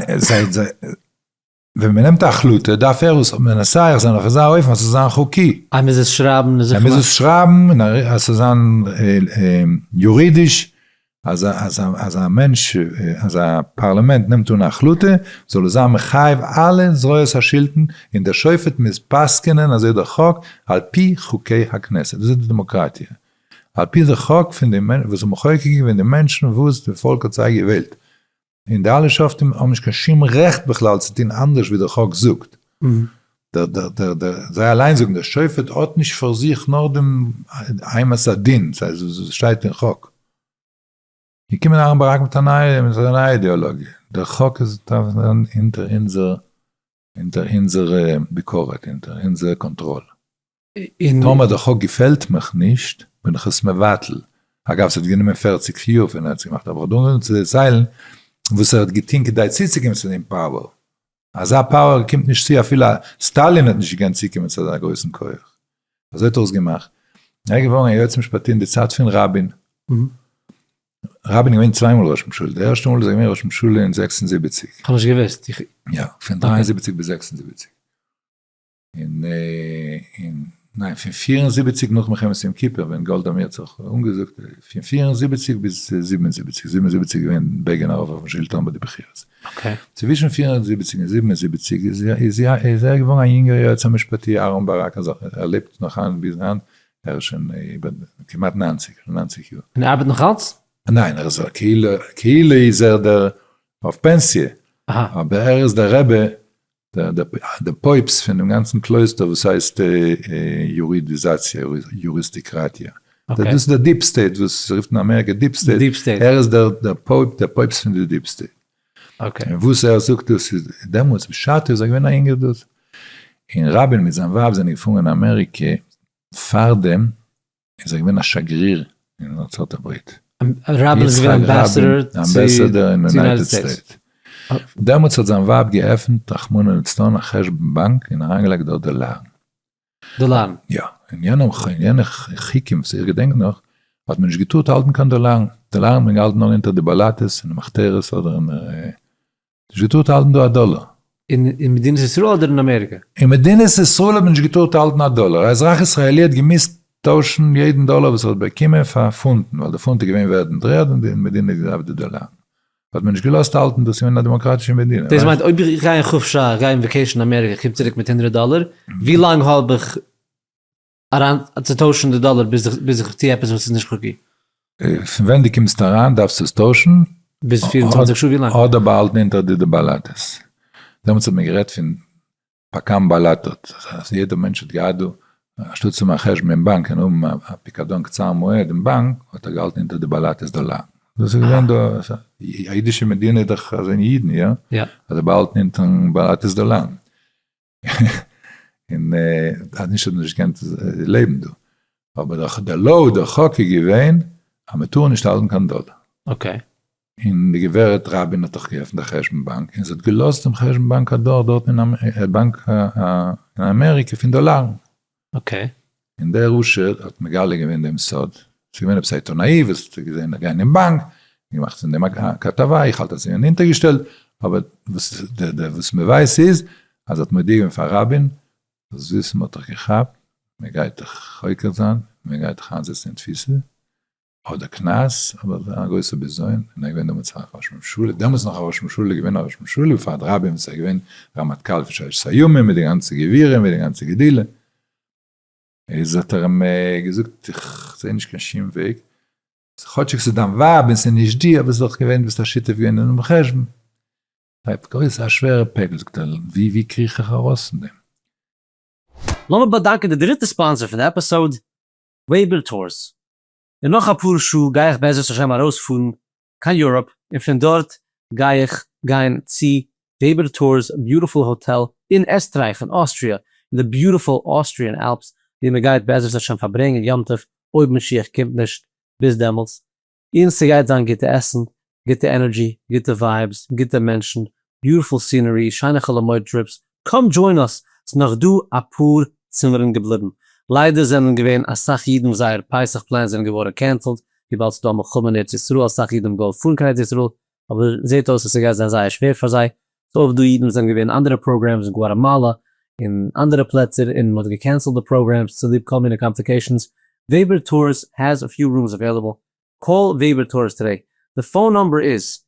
Speaker 2: ווען מען נעמט א החלטה דארף ער עס מנסח זיין אויף אזא אופן אז ס'זאל זיין חוקי. ער מוז עס שרייבן און
Speaker 1: זיך מאכן. ער מוז עס שרייבן
Speaker 2: און אז ס'זאל זיין יורידיש אז א מענטש, אז א פארלעמענט נעמט אן א החלטה זאל עס זיין מחייב אלע זרועות השלטון און דער שופט מוז פסק'ענען אזוי דער חוק על פי חוקי הכנסת. דאס איז די דעמאקראטיע. על פי די חוק פון די וואס האט מחוקק געווען די מענטשן וואס די פאלק האט זיי געוועלט. און די אלע שופטים האבן נישט קיין שום רעכט בכלל צו טון אנדערש ווי דער חק זאגט. זיי אליין זאגן, דער שופט האט נישט פאר זיך נאר דעם אימת הדין, ס'הייסט שטייט אין חק. געקומען אהרן ברק מיט א נייע אידעאלאגיע, דער חק איז אונטער אונזער אונטער אונזער ביקורת, אונטער אונזער קאנטראל. טאמער די חוק געפעלט מיך נישט, בין איך עס מבטל. אגב, ס'האט גענומען פֿערציק יאר פון ער האט עס געמאכט, אבער כ'דארף נאר צו דערציילן וואס ער האט געטון כדי צוצוקומען צו דעם פאוער. אזא פאוער קומט נישט צו, אפילו סטאלין האט נישט געקענט צוקומען צו אזא גרויסן כח. אזוי האט ער עס געמאכט. ער איז געווארן א יועץ משפטי אין די צייט פון רבין. רבין איז געווען צוויי מאל ראש ממשלה, די ערשטע מאל איז ער געווען ראש ממשלה אין זעקס און זיבעציק. כ'האב נישט געוואוסט.
Speaker 1: יא, פון דרײַ און
Speaker 2: זיבעציק ביז זעקס און זיבעציק. און און ניין, פון פֿיר און זיבעציק נאך מלחמת יום כיפור ווען גאלדא מאיר האט זיך אנגעזאגט, פון פֿיר און זיבעציק ביז זיבן און זיבעציק, זיבן און זיבעציק איז געווען בעגין ארויף אויפן שלטון ביי די בחירות. אקעי. צווישן
Speaker 1: פֿיר און
Speaker 2: זיבעציק און זיבן און זיבעציק איז ער געווארן א יונגער יועץ המשפטי אהרן ברק, ער לעבט נאך היינט ביז היינט, ער איז שוין איבער כמעט נײַנציק, שוין נײַנציק יאר. און ער ארבעט נאך אלץ?
Speaker 1: ניין, ער איז א כאילו,
Speaker 2: כאילו איז ער דער אויף פענסיע, אבער ער
Speaker 1: איז דער
Speaker 2: רבי, דער פויבסט פון דעם גאנצן קלויסטער וואס הייסט יורידיזאציע, יוריסטיקראטיע, דאס איז דער
Speaker 1: דיעפ סטעיט,
Speaker 2: וואס רופט אין אמעריקע דיעפ סטעיט, ער איז דער פויבסט פון די דיעפ סטעיט. און וואס
Speaker 1: ער זאגט דאס
Speaker 2: איז דעמאלטס בשעתו איז ער געווען א יונגער דוד, און רבין מיט זיין ווייב זענען געפארן אין אמעריקע, פארדעם איז ער געווען א שגריר אין ארצות הברית, רבין איז געווען
Speaker 1: אמבעסעדער
Speaker 2: אין יונייטעד סטעיטס, דעמאלטס האט זיין ווייב געעפענט רחמנא לצלן א חשבון באנק און אריינגעלייגט דארט דאלארן,
Speaker 1: דאלארן. יא,
Speaker 2: אין יענע חוקים וואס איך געדענק נאך, האט מען נישט געטארט האלטן קיין דאלארן, דאלארן האט מען געהאלטן נאר אונטער די באלאטעס און די מחתרות אדער אין די, נישט געטארט האלטן דא א דאלאר. אין מדינת
Speaker 1: ישראל אדער אין אמעריקע? אין מדינת
Speaker 2: ישראל האט מען נישט געטארט האלטן א דאלאר, א אזרח ישראלי האט געמוזט טוישן יעדן דאלאר וואס ער האט באקומען פאר פונטן, ווייל די פונט איז געווען ווערד אין דר'ערד און די מדינה האט געדארפט די דאלארן. האט מען נישט געלאזט האלטן דאס אין א דעמאקראטישע מדינה. דאס מיינט אויב איך גיי אין
Speaker 1: חופשה, גיי אין וועקעישן אין אמעריקע, קום צוריק מיט הונדרעט דאלער, ווי לאנג האב איך אריין צו טוישן די דאלער ביז איך ביז איך טו עפעס וואס איז נישט חוקי? פון ווען
Speaker 2: דו קומסט אריין דארפסטו עס טוישן? ביז פֿיר און צוואַנציק
Speaker 1: שעה ווי לאנג? אדער באהאלטן אונטער די
Speaker 2: די באלאטעס? דעמאלטס האט מען גערעדט פון פקם בלטות, אז יעדער מענטש האט געהאט דא, אנשטאט צו מאכן חשבון אין באנק און האבן א פיקדון קצר מועד אין באנק, האט ער געהאלטן אונטער די בלטות דא לאנג. דאס איז געווען דא, א אידישע מדינה איז דאך אזוי אין אידן, יא? יא. אז זיי באהאלטן
Speaker 1: אונטערן
Speaker 2: בלטות דא לאנג. און אז נישט האט מען נישט געקענט לעבן דא. אבער דער לאו, דער חוק איז געווען, אז מען טאר נישט האלטן קיין דאלער. אקעי.
Speaker 1: און די
Speaker 2: גברת רבין האט דאך געעפנט א חשבון באנק, און זי האט געלאזט דעם חשבון באנק אדורך דארט אין א באנק אין אמעריקע פון דאלארן. אקעי. און דער עושר האט מגלה געווען דעם סוד, ס'איז געווען עפעס א עיתונאי וואס האט געזען איך גיי אין באנק, און געמאכט פון דעם א כתבה, איך האלט אז ס'איז געווען אונטערגעשטעלט, אבער וואס מ'ווייסט איז אז ער האט מודיע געווען פאר רבין, זאלסט וויסן מ'האט דיך געכאפט, מ'גייט דיך חוקר זיין, מ'גייט דיך איינזעצן אין תפיסה, האט דער קנס אבער א גרויסע בזיון, און ער איז געווען דעמאלטס א ראש ממשלה, דעמאלטס נאך א ראש ממשלה, איז געווען א ראש ממשלה פאר דרײַ בימ ס, ער איז געווען רמטכ"ל פון ששת הימים מיט די גאנצע גבירים מיט די גאנצע גדילה, איז האט ער אים געזאגט איך זעה נישט קיין שום וועג, כאטשיג ס'איז דיין ווייב און ס'איז נישט דיר, אבער ס'איז דאך געווען דו ביסט א שותף געווען אינעם חשבון, בלייבט גרויס א שווערע פעקל, זאגט ער ווי ווי קריך איך ארויס פון דעם.
Speaker 1: לאמיר באדאנקען די דריטע ספאנסער פון די עפיסאוד. וועיבער טורס, און נאך אפאר שעה גיי איך בעזרת השם ארויספארן קיין יוראפ, און פון דארט גיי איך גיין צו וועיבער טורס ביוטיפול האטעל אין עסטרייך און אוסטריע אין די ביוטיפול אוסטריען אלפס, ווי מען גייט בעזרת השם פארברענגען יום טוב אויב משיח קומט נישט ביז דעמאלטס, און ס'גייט זיין גוטע עסן, גוטע ענערדזשי, גוטע ווייבס, גוטע מענטשן, ביוטיפול סינערי, שיינע חאלאמויד טריפס, קאם דזשוין אוס, ס'נאך דא אפאר צימערן געבליבן, ליידער זענען געווען אסאך אידן וואס זייער פסח פלענס זענען געווארן קענסעלד וויבאלד ס'דא מלחמה אין ארץ ישראל, אסאך אידן האבן געוואלט פארן קיין ארץ ישראל, אבער זעט אויס אז ס'גייט זיין זייער שווער פאר זיי, ס'איז אויך דא אידן וואס זענען געווען אין אנדערע פראגרעמס אין גואטאמאלא און אנדערע פלעצער און מ'האט געקענסלט די פראגרעמס צוליב כל מיני קאמפליקעישאנס, וועבער טורס העז א פיו רומס עוועילעבל, קאל וועבער טורס טודעי, די פאון נומבער איז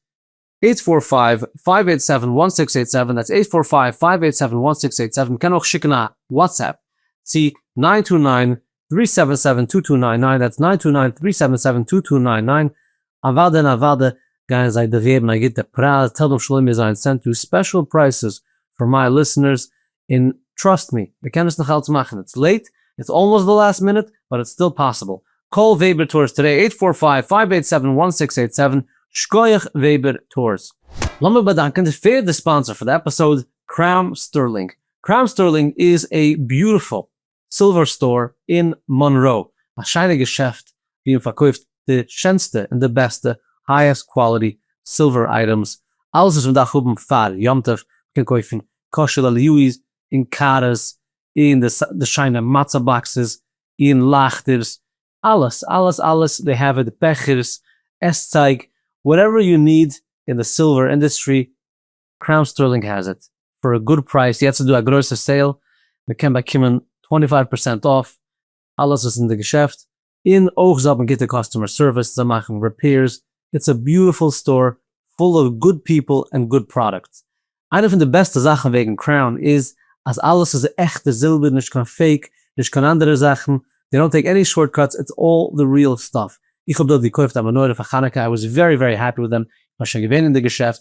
Speaker 1: עיט פאר פייוו, פייוו עיט סעווען, וואן סיקס עיט סעווען, דעטס עיט פאר פייוו, פייוו עיט סעווען, וואן סיקס עיט סעווען, מ'קען אויך שיקן א וואטסעפפ צו ניין טו ניין, טרי סעווען סעווען טו טו ניין ניין דעטס ניין טו ניין טרי סעווען סעווען טו טו ניין ניין אוואדע און אוואדע גייען זיי דיך געבן א גוטע פרייז טעל דעם שלומי זיין סענט דא ספעשל פרייסעס פאר מיי ליסענערס און טראסט מי מ'קען עס נאך אלץ מאכן איטס לעיט איטס אלמאסט די לאסט מינוט באט איטס סטיל פאסיבל קאל וועבער טארס טודעי עיט פאר פייוו פייוו עיט סעווען וואן סיקס עיט סעווען שקויעך וועבער טארס. לאמיר באדאנקען די פערדע ספאנסער פאר די עפיסאוד קראום סטערלינג קראום סטערלינג איז א ביוטיפול סילווער סטאר אין מאנראו, א שיינע געשעפט ווי מען פארקויפט די שענסטע און די בעסטע הייעסט קוואליטי סילווער אייטעמס, אלעס וואס מען דארף האבן פאר יום טוב, מען קען קויפן קאשע לאליויס און קארס און די שיינע מצה באקסעס און לייכטערס, אלעס אלעס אלעס, דעי העוו איט, בעכערס, עסצייג, וואטעווער יו ניד אין די סילווער אינדוסטרי קראון סטערלינג העז איט פאר א גוד פרייז, יעצט איז דא א גרויסע סעיל, מען קען באקומען טווענטי פייוו פערסענט אףף אלעס וואס איז אין די געשעפט, און אויך זיי האבן גוטע קאסטומער סערוויס, זיי מאכן ריפעירס, איטס א ביוטיפול סטאר פול אוו גוד פיפל ענד גוד פראדוקטס, איינע פון די בעסטע זאכן וועגן קראון איז אז אלעס איז עכטע זילבער נישט קיין פעיק נישט קיין אנדערע זאכן, דעי דאנט טעיק עני שארט קאטס איטס אלל די ריעל סטאף, איך האב דארט געקויפט א מנורה פאר חנוכה איי וואס ווערי ווערי העפי וויט דעם, איך בין שוין געווען אין די געשעפט,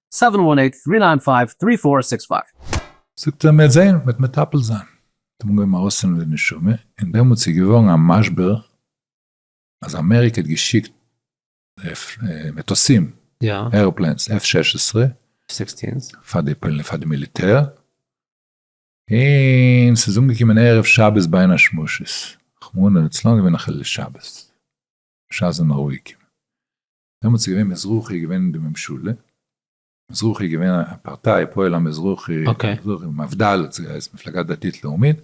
Speaker 1: סעווען וואן עיט טרי ניין פייוו טרי פאר סיקס פייוו. זאגט
Speaker 2: ער מ'עט זעהן, מ'עט מטפל זיין. האט מען געהויבן ארויסצאלן די נשמה, און דעמאלטס איז געווארן א משבר אז אמעריקע האט געשיקט מטוסים, עראפלעינס, עף שש עשרה,
Speaker 1: פאר
Speaker 2: די מיליטער, און ס'איז אנגעקומען ערב שבת בין השמשות, רחמנא לצלן געווען א חילול שבת, בשעת זענען רואיג געווען, דעמאלטס איז געווען מזרחי איז געווען אין די ממשלה, מזרחי איז געווען א פארטיי פועל המזרחי, מפדל האט זי געהייסן, מפלגה דתית לאומית,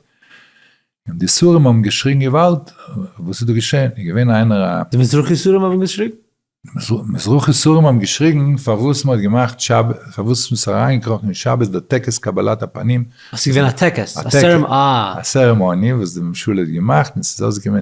Speaker 2: און די סורים האבן געשריגן געוואלד, וואס איז דא געשען, איז געווען איינער א. די מזרחי
Speaker 1: סורים האבן געשריגן? מזרחי
Speaker 2: סורים האבן געשריגן פארוואס מען האט געמאכט שבת, פארוואס מען איז אריינגעקראכן אין שבת די טקס קבלת הפנים. ס'איז געווען א טקס,
Speaker 1: א סערעמאני. א סערעמאני
Speaker 2: וואס די ממשלה האט געמאכט און ס'איז אויסגעקומען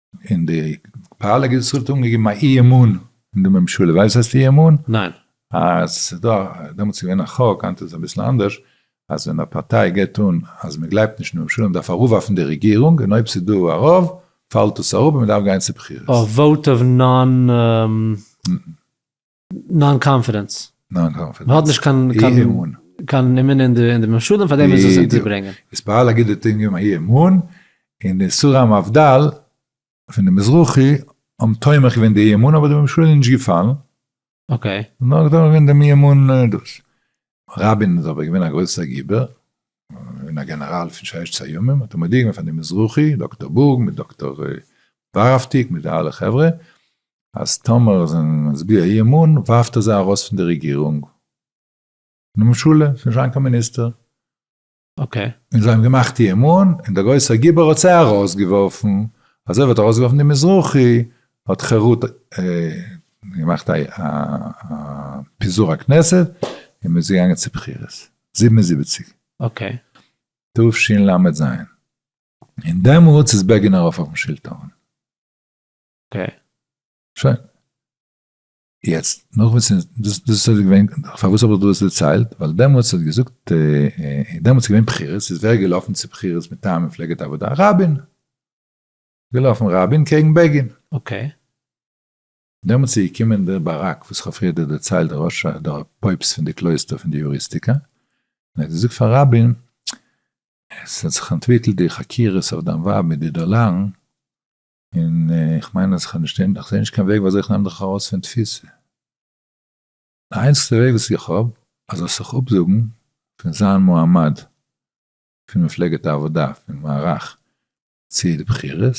Speaker 2: און די פאליק איז צוריק אנגעגעבן א אי אמון אין די ממשלה, ווייסט וואס הייסט אי אמון? ניין. אז
Speaker 1: עס איז
Speaker 2: דא, דעמאלטס איז געווען א חוק, היינט איז אביסל אנדערש, אז ווען א פארטיי געבט אן אז מען גלייבט נישט אין ממשלה, מען דארף אראפווארפן די רעגירונג, און אויב ס'איז דא א רוב, פאלט דאס אראפ און מען דארף גיין צו בחירות. א וואוט אוו
Speaker 1: נאן נאן קאנפידענס. נאן קאנפידענס. מען האט נישט קיין קיין
Speaker 2: אי אמון. קיין אמונה אין די ממשלה פאר דעם איז עס אונטערברענגען. בדיוק. עס פארהאלט א גוטע טעם אי אמון, און די איסורי המבדל פון די מזרחי האבן תומך געווען די אי אמון אבער די ממשלה איז נישט געפאלן. אקעי.
Speaker 1: נאר תומך געווען
Speaker 2: דעם אי אמון דאס. רבין איז אבער געווען א גרויסער גיבור און א גענעראל פון ששת הימים, האט ער מודיע געווען פאר די מזרחי, דאקטאר בורג מיט דאקטאר ווארהאפטיג מיט די אלע חברה, אז טאמער זיי זענען מצביע אי אמון ווארפט ער זיי ארויס פון די רעגירונג, און די ממשלה, ס'איז נישט זיין קיין מיניסטער.
Speaker 1: און זיי האבן געמאכט
Speaker 2: איהם אן, און דער גרויסער גיבור האט זיי ארויסגעווארפן, אזוי ווי ער האט ארויסגעווארפן די מזרחי, האט חרות געמאכט א פיזור הכנסת, און מען איז געגאנגען צו בחירות, זיבן און זיבעציק,
Speaker 1: תשל
Speaker 2: ל ז, און דעמאלטס איז בעגין ארויף אויפן שלטון. שוין. יעצט, נאך וואס ס'איז, דאס איז אזוי געווען, פארוואס האב איך דא עס דערציילט, ווייל דעמאלטס האט געזאגט, דעמאלטס איז געווען בחירות, איז ווער געלאפן צו בחירות מטעם מפלגת העבודה? רבין! געלאפן רבין קעגן בעגין. אקעי. דעמאלטס איז געקומען דער ברק, וואס כ'האב פריער דיר דערציילט, דער ראש ה, דער פויפסט פון די קלויסטער פון די יוריסטיקא, און ער האט געזאגט פאר רבין, עס האט זיך אנטוויקלט די חקירות אויף דיין ווייב מיט די דאלארן, און איך מיין אז איך האב נישט אין, איך זע נישט קיין וועג וויאזוי איך נעם דיך ארויס פון תפיסה. די איינציגסטע וועג וואס איך האב, אז זאלסט זיך אפזאגן פון זיין מועמד פון מפלגת העבודה, פון מערך, צו די בחירות,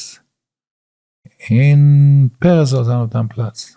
Speaker 2: און פרס זאל זיין אויף דיין פלאץ.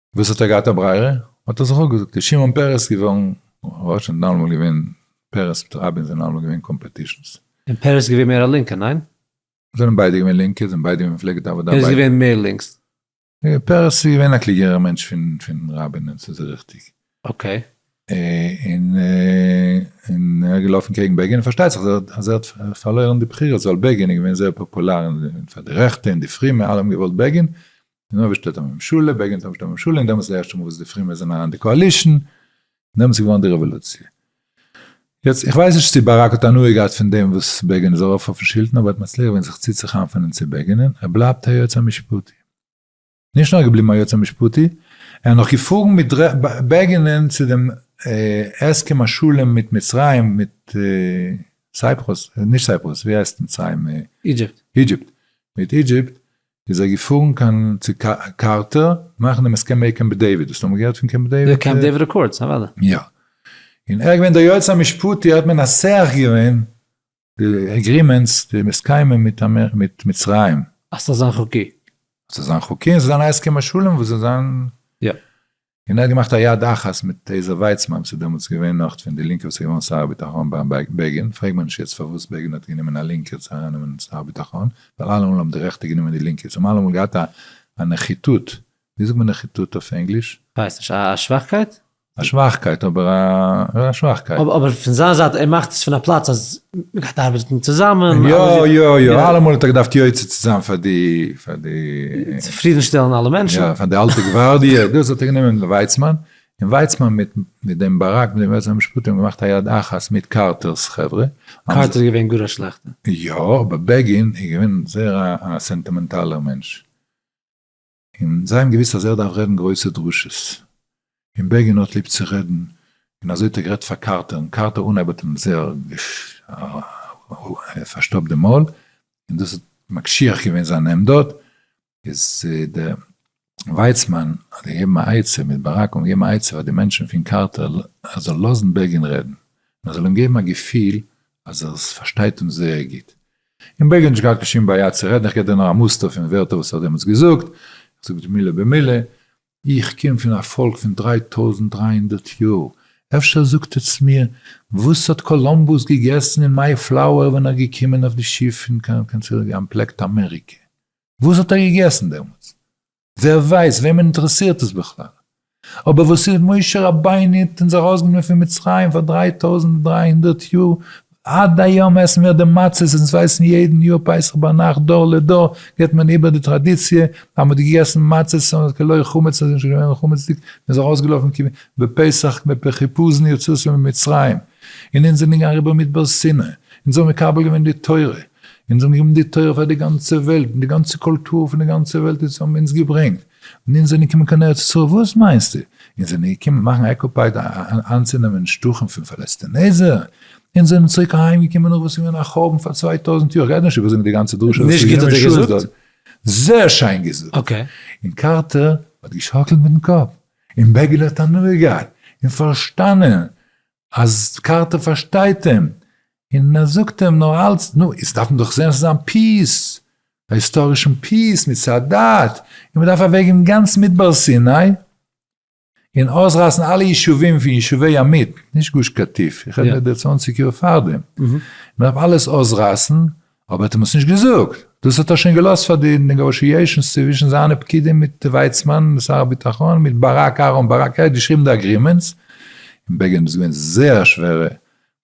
Speaker 2: וואס האט ער געהאט א ברירה? האט ער זיך אפגעזאגט, איז שמעון פרס געווארן ראש און דאן וואלט געווען פרס מיט רבין זענען אלעמאל געווען קאמפעטישאנס. און פרס איז געווען מער
Speaker 1: א לינקער, ניין? זענען ביידע געווען
Speaker 2: לינקע, זענען ביידע געווען מפלגת העבודה. ווער איז געווען מער לינקס?
Speaker 1: פרס
Speaker 2: איז געווען א קלוגערער מענטש פון רבין און ס'איז ריכטיג. אקעי. און ער איז געלאפן קעגן בעגין און פארשטייט זיך אז ער האט פארלוירן די בחירות ווייל בעגין איז געווען זייער פאפולאר פאר די רעכטע און די פרימע אלע האבן געוואלט בעגין נא ווער שטעלט א ממשלה? בגין האט אנגעשטעלט א ממשלה און דעמאלטס איז די ערשטע מאל וואס די פרומע זענען אריין אין די קאאלישן און דעמאלטס איז געווארן די רעוואלוציע. יעצט איך ווייס נישט צו באראק האט הנאה געהאט פון דעם וואס בעגין איז ארויף אויפן שלטון אבער ער האט מצליח געווען זיך צוצוכאמפענען צו בעגינען ער בלייבט היועץ המשפטי. נישט נאר געבליבן היועץ המשפטי ער האט נאך געפארן מיט בעגינען צו דעם הסכם השלום מיט מצרים מיט סייפרוס נישט סייפרוס ווי הייסט מצרים אידזשיפט
Speaker 1: מיט
Speaker 2: אידזשיפט איז זיי געפארן קיין צו קארטער מאכן דעם הסכם מעי קעמפ דעיוויד, האסט אמאל געהערט פון קעמפ דעיוויד? די קעמפ דעיוויד רעקארדס,
Speaker 1: אוודאי. יא.
Speaker 2: און ער איז געווען דער יועץ המשפטי, האט מען נסח געווען די עגרימענטס, די הסכמים מיט מצרים. אז ס'זאל זיין חוקי.
Speaker 1: אז ס'זאל זיין חוקי
Speaker 2: און ס'זאל זיין א הסכם השלום וואס זאל זיין. יא.
Speaker 1: און ער האט געמאכט
Speaker 2: א יד אחת מיט עזר ווייצמאן וואס איז דעמאלטס געווען נאך פון די לינקע וואס איז געווארן שר הביטחון ביים בעגין, פרעג מיר נישט יעצט פארוואס בעגין האט גענומען א לינקער צו ארייננעמען שר הביטחון, ווייל אלעמאל האבן די רעכטע גענומען די לינקע, זיי האבן אלעמאל געהאט א נחיתות, ווי זאגט מען נחיתות אויף ענגליש? כ'ווייס נישט, א
Speaker 1: שוואכקייט? א שוואכקייט
Speaker 2: אבער א שוואכקייט. אבער פון זיין זייט ער
Speaker 1: מאכט עס פון א פלאץ אז מען גייט ארבעטן צוזאמען. יא יא יא,
Speaker 2: אלעמאל האט ער געדארפט יוצא צו זיין פאר די פאר די. צופרידן
Speaker 1: שטעלן אלע מענטשן. יא, פאר די אלטע גווארדיע,
Speaker 2: דאס האט ער גענומען ווייצמאן, און ווייצמאן מיט מיט דעם באראק מיט דעם יועץ המשפטי האבן געמאכט א יד אחת מיט קארטער'ס חברה. קארטער איז געווען גאר
Speaker 1: א שלעכטע. יא, אבער
Speaker 2: בעגין איז געווען זייער א סענטימענטאלער מענטש. און זיי האבן געוויסט אז ער דארף רעדן גרויסע דרשות, און בעגין האט ליב צו רעדן, און אזוי האט ער גערעדט פאר קארטער, און קארטער אנהייב האט אים זייער פארשטאפט די מויל, און דאס האט מקשיח געווען זיין עמדות, איז דער ווייצמאן האט געגעבן א עצה, מיט ברק האבן געגעבן א עצה פאר די מענטשן פון קארטער, ער זאל לאזן בעגין רעדן, און ער זאל אים געבן א געפיל אז ער פארשטייט אים זייער גוט. און בייגעלט נישט געהאט קיין שום בעיה צו רעדן, איך געב דיר נאר א מוסטער פון ווערטער וואס ער האט דעמאלטס געזאגט, איך זאג דיר מילה במילה, איך קום פון א פאלק פון דריי טויזנט דריי הונדערט יאר, אפשר זאגט עטס מיר וואס האט קאלאמבוס געגעסן אין מיי פלאוער ווען ער איז געקומען אויף די שיף פון קיין קיין צוריק אנטפלעקט אמעריקע, וואס האט ער געגעסן דעמאלטס? ווער ווייסט וועמען אינטערעסירט עס בכלל? אבער וואס איז משה רבינו האט אונז ארויסגענומען פון מצרים פאר דריי טויזנט און דריי הונדערט יאר, עד היום עסן מיר די מצות, אונז ווייסן יעדן יאר פסח ביינאכט, דור לדור גיבט מען איבער די טראדיציע, אז מען האט געגעסן מצות און כלא חמץ און עס איז נישט געווען חמצ'דיג, מען איז ארויסגעלאפן כ ב פסח מפ פ חיפזון יציאתו ממצרים, און אונז זענען געגאנגען אריבער מדבר סיני, אונז האבן מקבל געווען די תורה, אונז האבן געגעבן די תורה פאר די גאנצע וועלט, און די גאנצע קולטור פון די גאנצע וועלט איז האבן אונז געברענגט, און אונז זענען געקומען קיין ארץ ישראל וואס מיינסטו? אונז זענען געקומען מאכן אקופייד איינצונעמען שטחים פון פאלעסטינעזער? אונז זענען צוריק אהיים געקומען נאך וואס איז געווען א חורבן פאר צוויי טויזנט יאר, כ'גיי נישט איבער זאגן די גאנצע דרשה וואס איז געווען משוגעת דארט.
Speaker 1: זייער
Speaker 2: שיין געזאגט! און
Speaker 1: קארטער
Speaker 2: האט געשאקלט מיטן קאפ, און בעגעלע האט הנאה געהאט, און פארשטאנען אז קארטער פארשטייט אים, און ער זאגט אים נאר אלץ, נו, איצט דארף מען דאך זען ס'איז אן פיס, א היסטארישן פיס מיט סאדאט, און מ'דארף אוועקגעבן גאנץ מדבר סיני, און אויסרייסן אלע ישובים פון ישובי ימית, נישט גוש קטיף, איך רעד מיר די צוואנציג יאר פארדעם, מ'דארף אלעס אויסרייסן, אבער האט אים עס נישט געזאגט, דאס האט ער שוין געלאזט פאר די נעגאשיעישאנס צווישן זיינע פקידים מיט ווייצמאן שר הביטחון מיט באראק אהרן באראק ער האט געשריבן די אגרימענטס און בעגין איז געווען זייער שווערע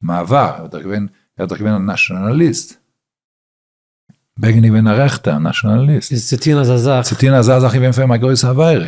Speaker 2: מעבר ער איז דאך געווען ער איז דאך געווען א נאשאנאליסט בעגין איז געווען א רעכטער נאשאנאליסט איז צו טוהן אזא זאך צו
Speaker 1: טוהן אזא זאך
Speaker 2: איז געווען פאר אים א גרויסע עבירה.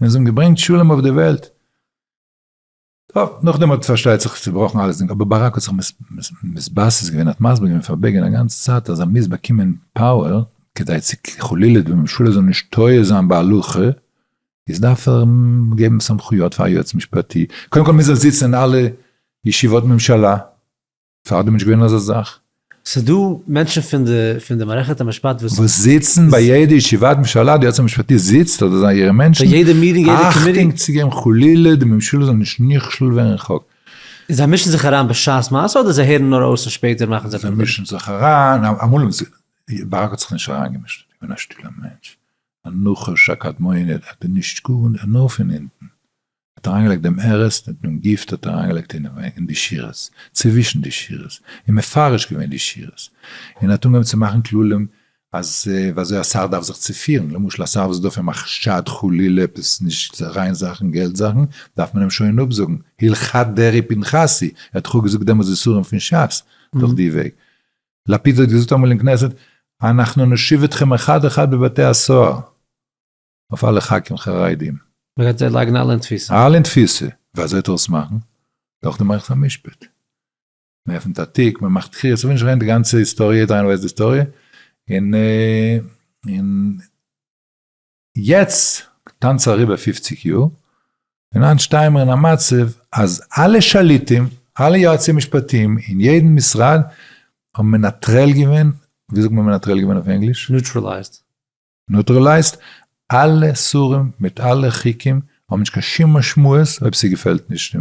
Speaker 2: און זיי האבן געברענגט שלום אויף די וועלט. טוב, נאכדעם האט פארשטייט זיך צובראכן אלעס, אבער באראק האט זיך מתבסס געווען, האט מסביר געווען פאר בעגין א גאנצע צייט אז ער מוז באקומען פאוער, כדי צו חלילה די ממשלה זאל נישט טועה זיין בהלכה, איז דארף ער געבן סמכויות פאר א יועץ משפטי, קודם כל מוז ער זיצן אין אלע ישיבות ממשלה, פארדעם נישט געווען אזא זאך. ס'איז דא
Speaker 1: מענטשן פון די פון די מערכת המשפט וואס. וואס זיצן
Speaker 2: ביי יעדע ישיבת ממשלה, די יועץ המשפטי זיצט אדער זיי אירע מענטשן. ביי יעדע מיטינג יעדע קאמיטי.
Speaker 1: אכטונג צו געבן חלילה
Speaker 2: די ממשלה זאל נישט נכשל ווערן ח ו. און זיי מישן
Speaker 1: זיך אריין בשעת מעשה אדער זיי הערן נאר אויס און שפעטער מאכן זיי. זיי מישן זיך אריין,
Speaker 2: אמאל האבן זיי, ברק האט זיך נישט אריינגעמישט, ער איז געווען א שטילער מענטש, א נחש, א קדמוני, ער האט נישט גערעדט, נאר פון אונטן. מען האט אריינגעלייגט דעם ערס און דעם גיפט האט אריינגעלייגט אינעם אין די שירות, צווישן די שירות, און מפרש געווען די שירות, און האט אנגעהויבן צו מאכן כללים אז ווי אזוי א שר דארף זיך צו פירן, למשל א שר וואס איז דא פאר מחשד חלילה עפעס נישט ריין זאכן געלט זאכן, דארף מען אים שוין אפזאגן, הלכת דרעי פנחסי, ער האט דאך געזאגט דעמאלס איסורים פון שס דורך די וועג. לפיד האט געזאגט אמאל אין כנסת אנחנו נושיב אתכם אחד אחד בבתי הסוהר. אויף אלע חקים חרדים. מ'גייט זיי לייגן
Speaker 1: אלע אין תפיסה. אלע אין תפיסה. ווי
Speaker 2: אזוי טאר עס מאכן? דורך די מערכת המשפט. מ'עפנט א תיק, מ'מאכט תחי', איך וויל נישט רעדן די גאנצע היסטאריע, יעדער איינער ווייסט די היסטאריע, און און יעצט טאנץ אריבער פופציג יאר, און היינט שטייען מיר אין א מצב אז אלע שליטים, אלע יועצי משפטים, אין יעדן משרד, האבן מנטרל געווען, ווי זאגט מען מנטרל געווען אויף ענגליש? Neutralized. נוטרעלייזט אלע סרים מיט אלע חוקים האבן נישט קיין שום משמעות אויב ס'געפעלט נישט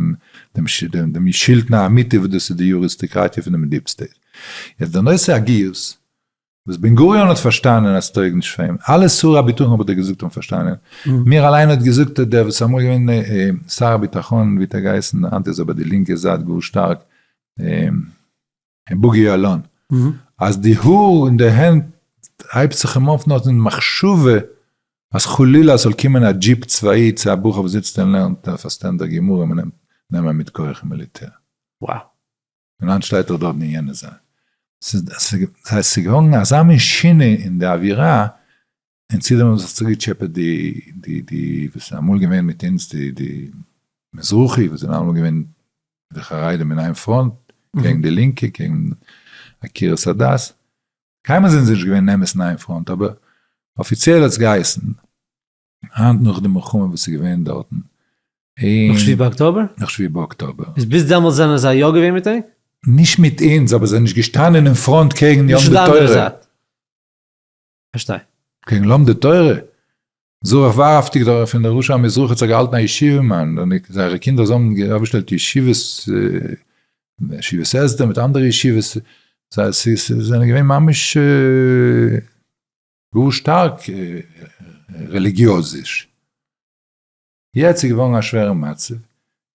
Speaker 2: דעם שלטון האמיתי וואס דאס איז די יוריסטקראטיע פון דעם דיעפ סטעיט. יעצט די נושא הגיוס וואס בן גוריון האט פארשטאנען אז ס'טויג נישט פאר אים, אלע שרי הביטחון האב איך דיר געזאגט האבן פארשטאנען, מיר אליין האט געזאגט דער וואס איז אמאל געווען שר הביטחון ווי האט ער געהייסן היינט איז ער ביי די לינקע זייט גאר שטארק. אין בוגי יעלון, אז די האר אין די הענט הייבט זיך אים אויף נאר פון די מחשבה אז חלילה עס זאל קומען א דזשיפ צבאי צו א בחור וואס זיצט און לערנט אויף א סטענדער גמרא מען נעמט נעמען אים מיט כח אין מיליטער. Wow.
Speaker 1: און היינט
Speaker 2: שטייט ער דארט אין יענע זאל. ס'איז געווארן אזא מין שינוי אין די אווירה, און צו דעם האבן זיך צוגעטשעפעט די די די וואס זענען אמאל געווען מיט אונז די די מזרחי וואס זענען אלעמאל געווען די חרדים אין איין פראנט קעגן די לינקע קעגן עקירת הדת, קיינמאל זענען זיי נישט געווען אמת אין איין פראנט אבער אפיציעל האט עס געהייסן, היינט נאך די מלחמה וואס איז געווען דארטן, און, נאך שבעה
Speaker 1: באקטאבער? נאך שבעה באקטאבער.
Speaker 2: איז ביז דעמאלטס זענען זיי
Speaker 1: יא געווען מיט ענק? נישט מיט אונז
Speaker 2: אבער זיי זענען נישט געשטאנען אין פראנט קעגן יהדות התורה.
Speaker 1: פארשטיי. קעגן
Speaker 2: לומדי תורה? זרח ורהפטיג דארט פון דער רשע המזרחי האט זיך געהאלטן א ישיבה מאן, און זייערע קינדער זיי האבן אויפגעשטעלט ישיבות, ישיבת הסדר מיט אנדערע ישיבות, זיי זענען געווען ממש גאר שטארק רעליגיעזיש. יעצט איז געווארן א שווערע מצב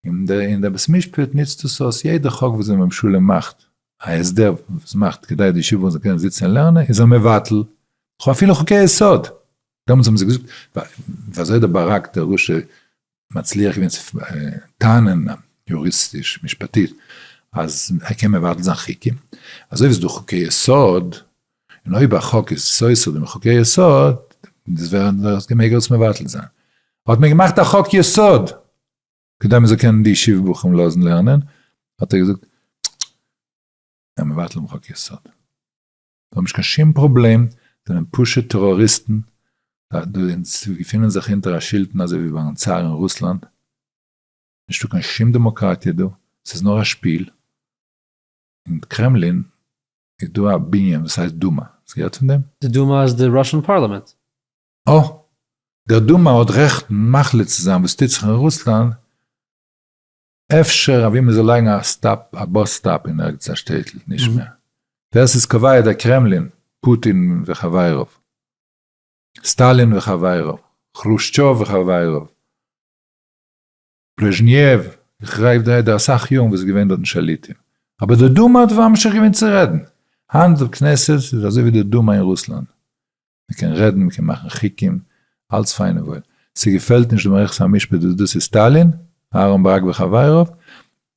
Speaker 2: און דער און דער בית משפט נוצט דאס אויס, יעדע חוק וואס די ממשלה מאכט, א הסדר וואס מאכט כדי די ישיבות זאלן קענען זיצן און לערנען איז ער מבטל, כ'האב אפילו חוקי יסוד, דעמאלטס האבן זיי געזאגט, ווי אזוי דער ברק דער רשע מצליח געווען צו טענה'ן יוריסטיש, משפטית, אז ער קען מבטל זיין חוקים, אזוי ווי ס'איז דא חוקי יסוד. און אויב א חוק איז סותר דעם חוקי יסוד, דאס ווער עס ווער עס געמעגער עס מבטל זיין. האט מען געמאכט א חוק יסוד, כדי מען זאל קענען די ישיבה בחורים לאזן לערנען, האט ער געזאגט, ער מבטל דעם חוק יסוד. זיי האבן נישט קיין שום פראבלעם, זיי זענען פשוט טעראריסטן, אונז געפינען זיך אונטער א שלטון אזוי ווי ביים צאר אין רוסלאנד, נישטא קיין שום דעמאקראטיע דא, ס'איז נאר א שפיל, און קרעמלין איז דא א בנין וואס הייסט דומא, האסט געהערט פון דעם? די דומא איז די ראשען
Speaker 1: פארלעמענט. אה!
Speaker 2: דער דומא האט רעכטן מחליט צו זיין וואס טוט זיך אין רוסלאנד, אפשר אוואו מען זאל לייגן א סטאפ, א באס סטאפ אין ערגעץ א שטעטל, נישט מער. ווער ס'איז קובע? דער קרעמלין, פוטין וחביריו, סטאלין וחביריו, כרושטשוב וחביריו. ברעזשניעוו, איך רעיף דיר איידער אסאך יארן וואס איז געווען דארטן שליטים, אבער דער דומא האט ממשיך געווען צו רעדן, היינט דער כנסת איז אזוי ווי דער דומא אין רוסלאנד, מען קען רעדן, מען קען מאכן חוקים, אלץ פיין און וואויל, ס'געפעלט נישט די מערכת המשפט וואס דאס איז סטאלין, אהרן ברק וחביריו,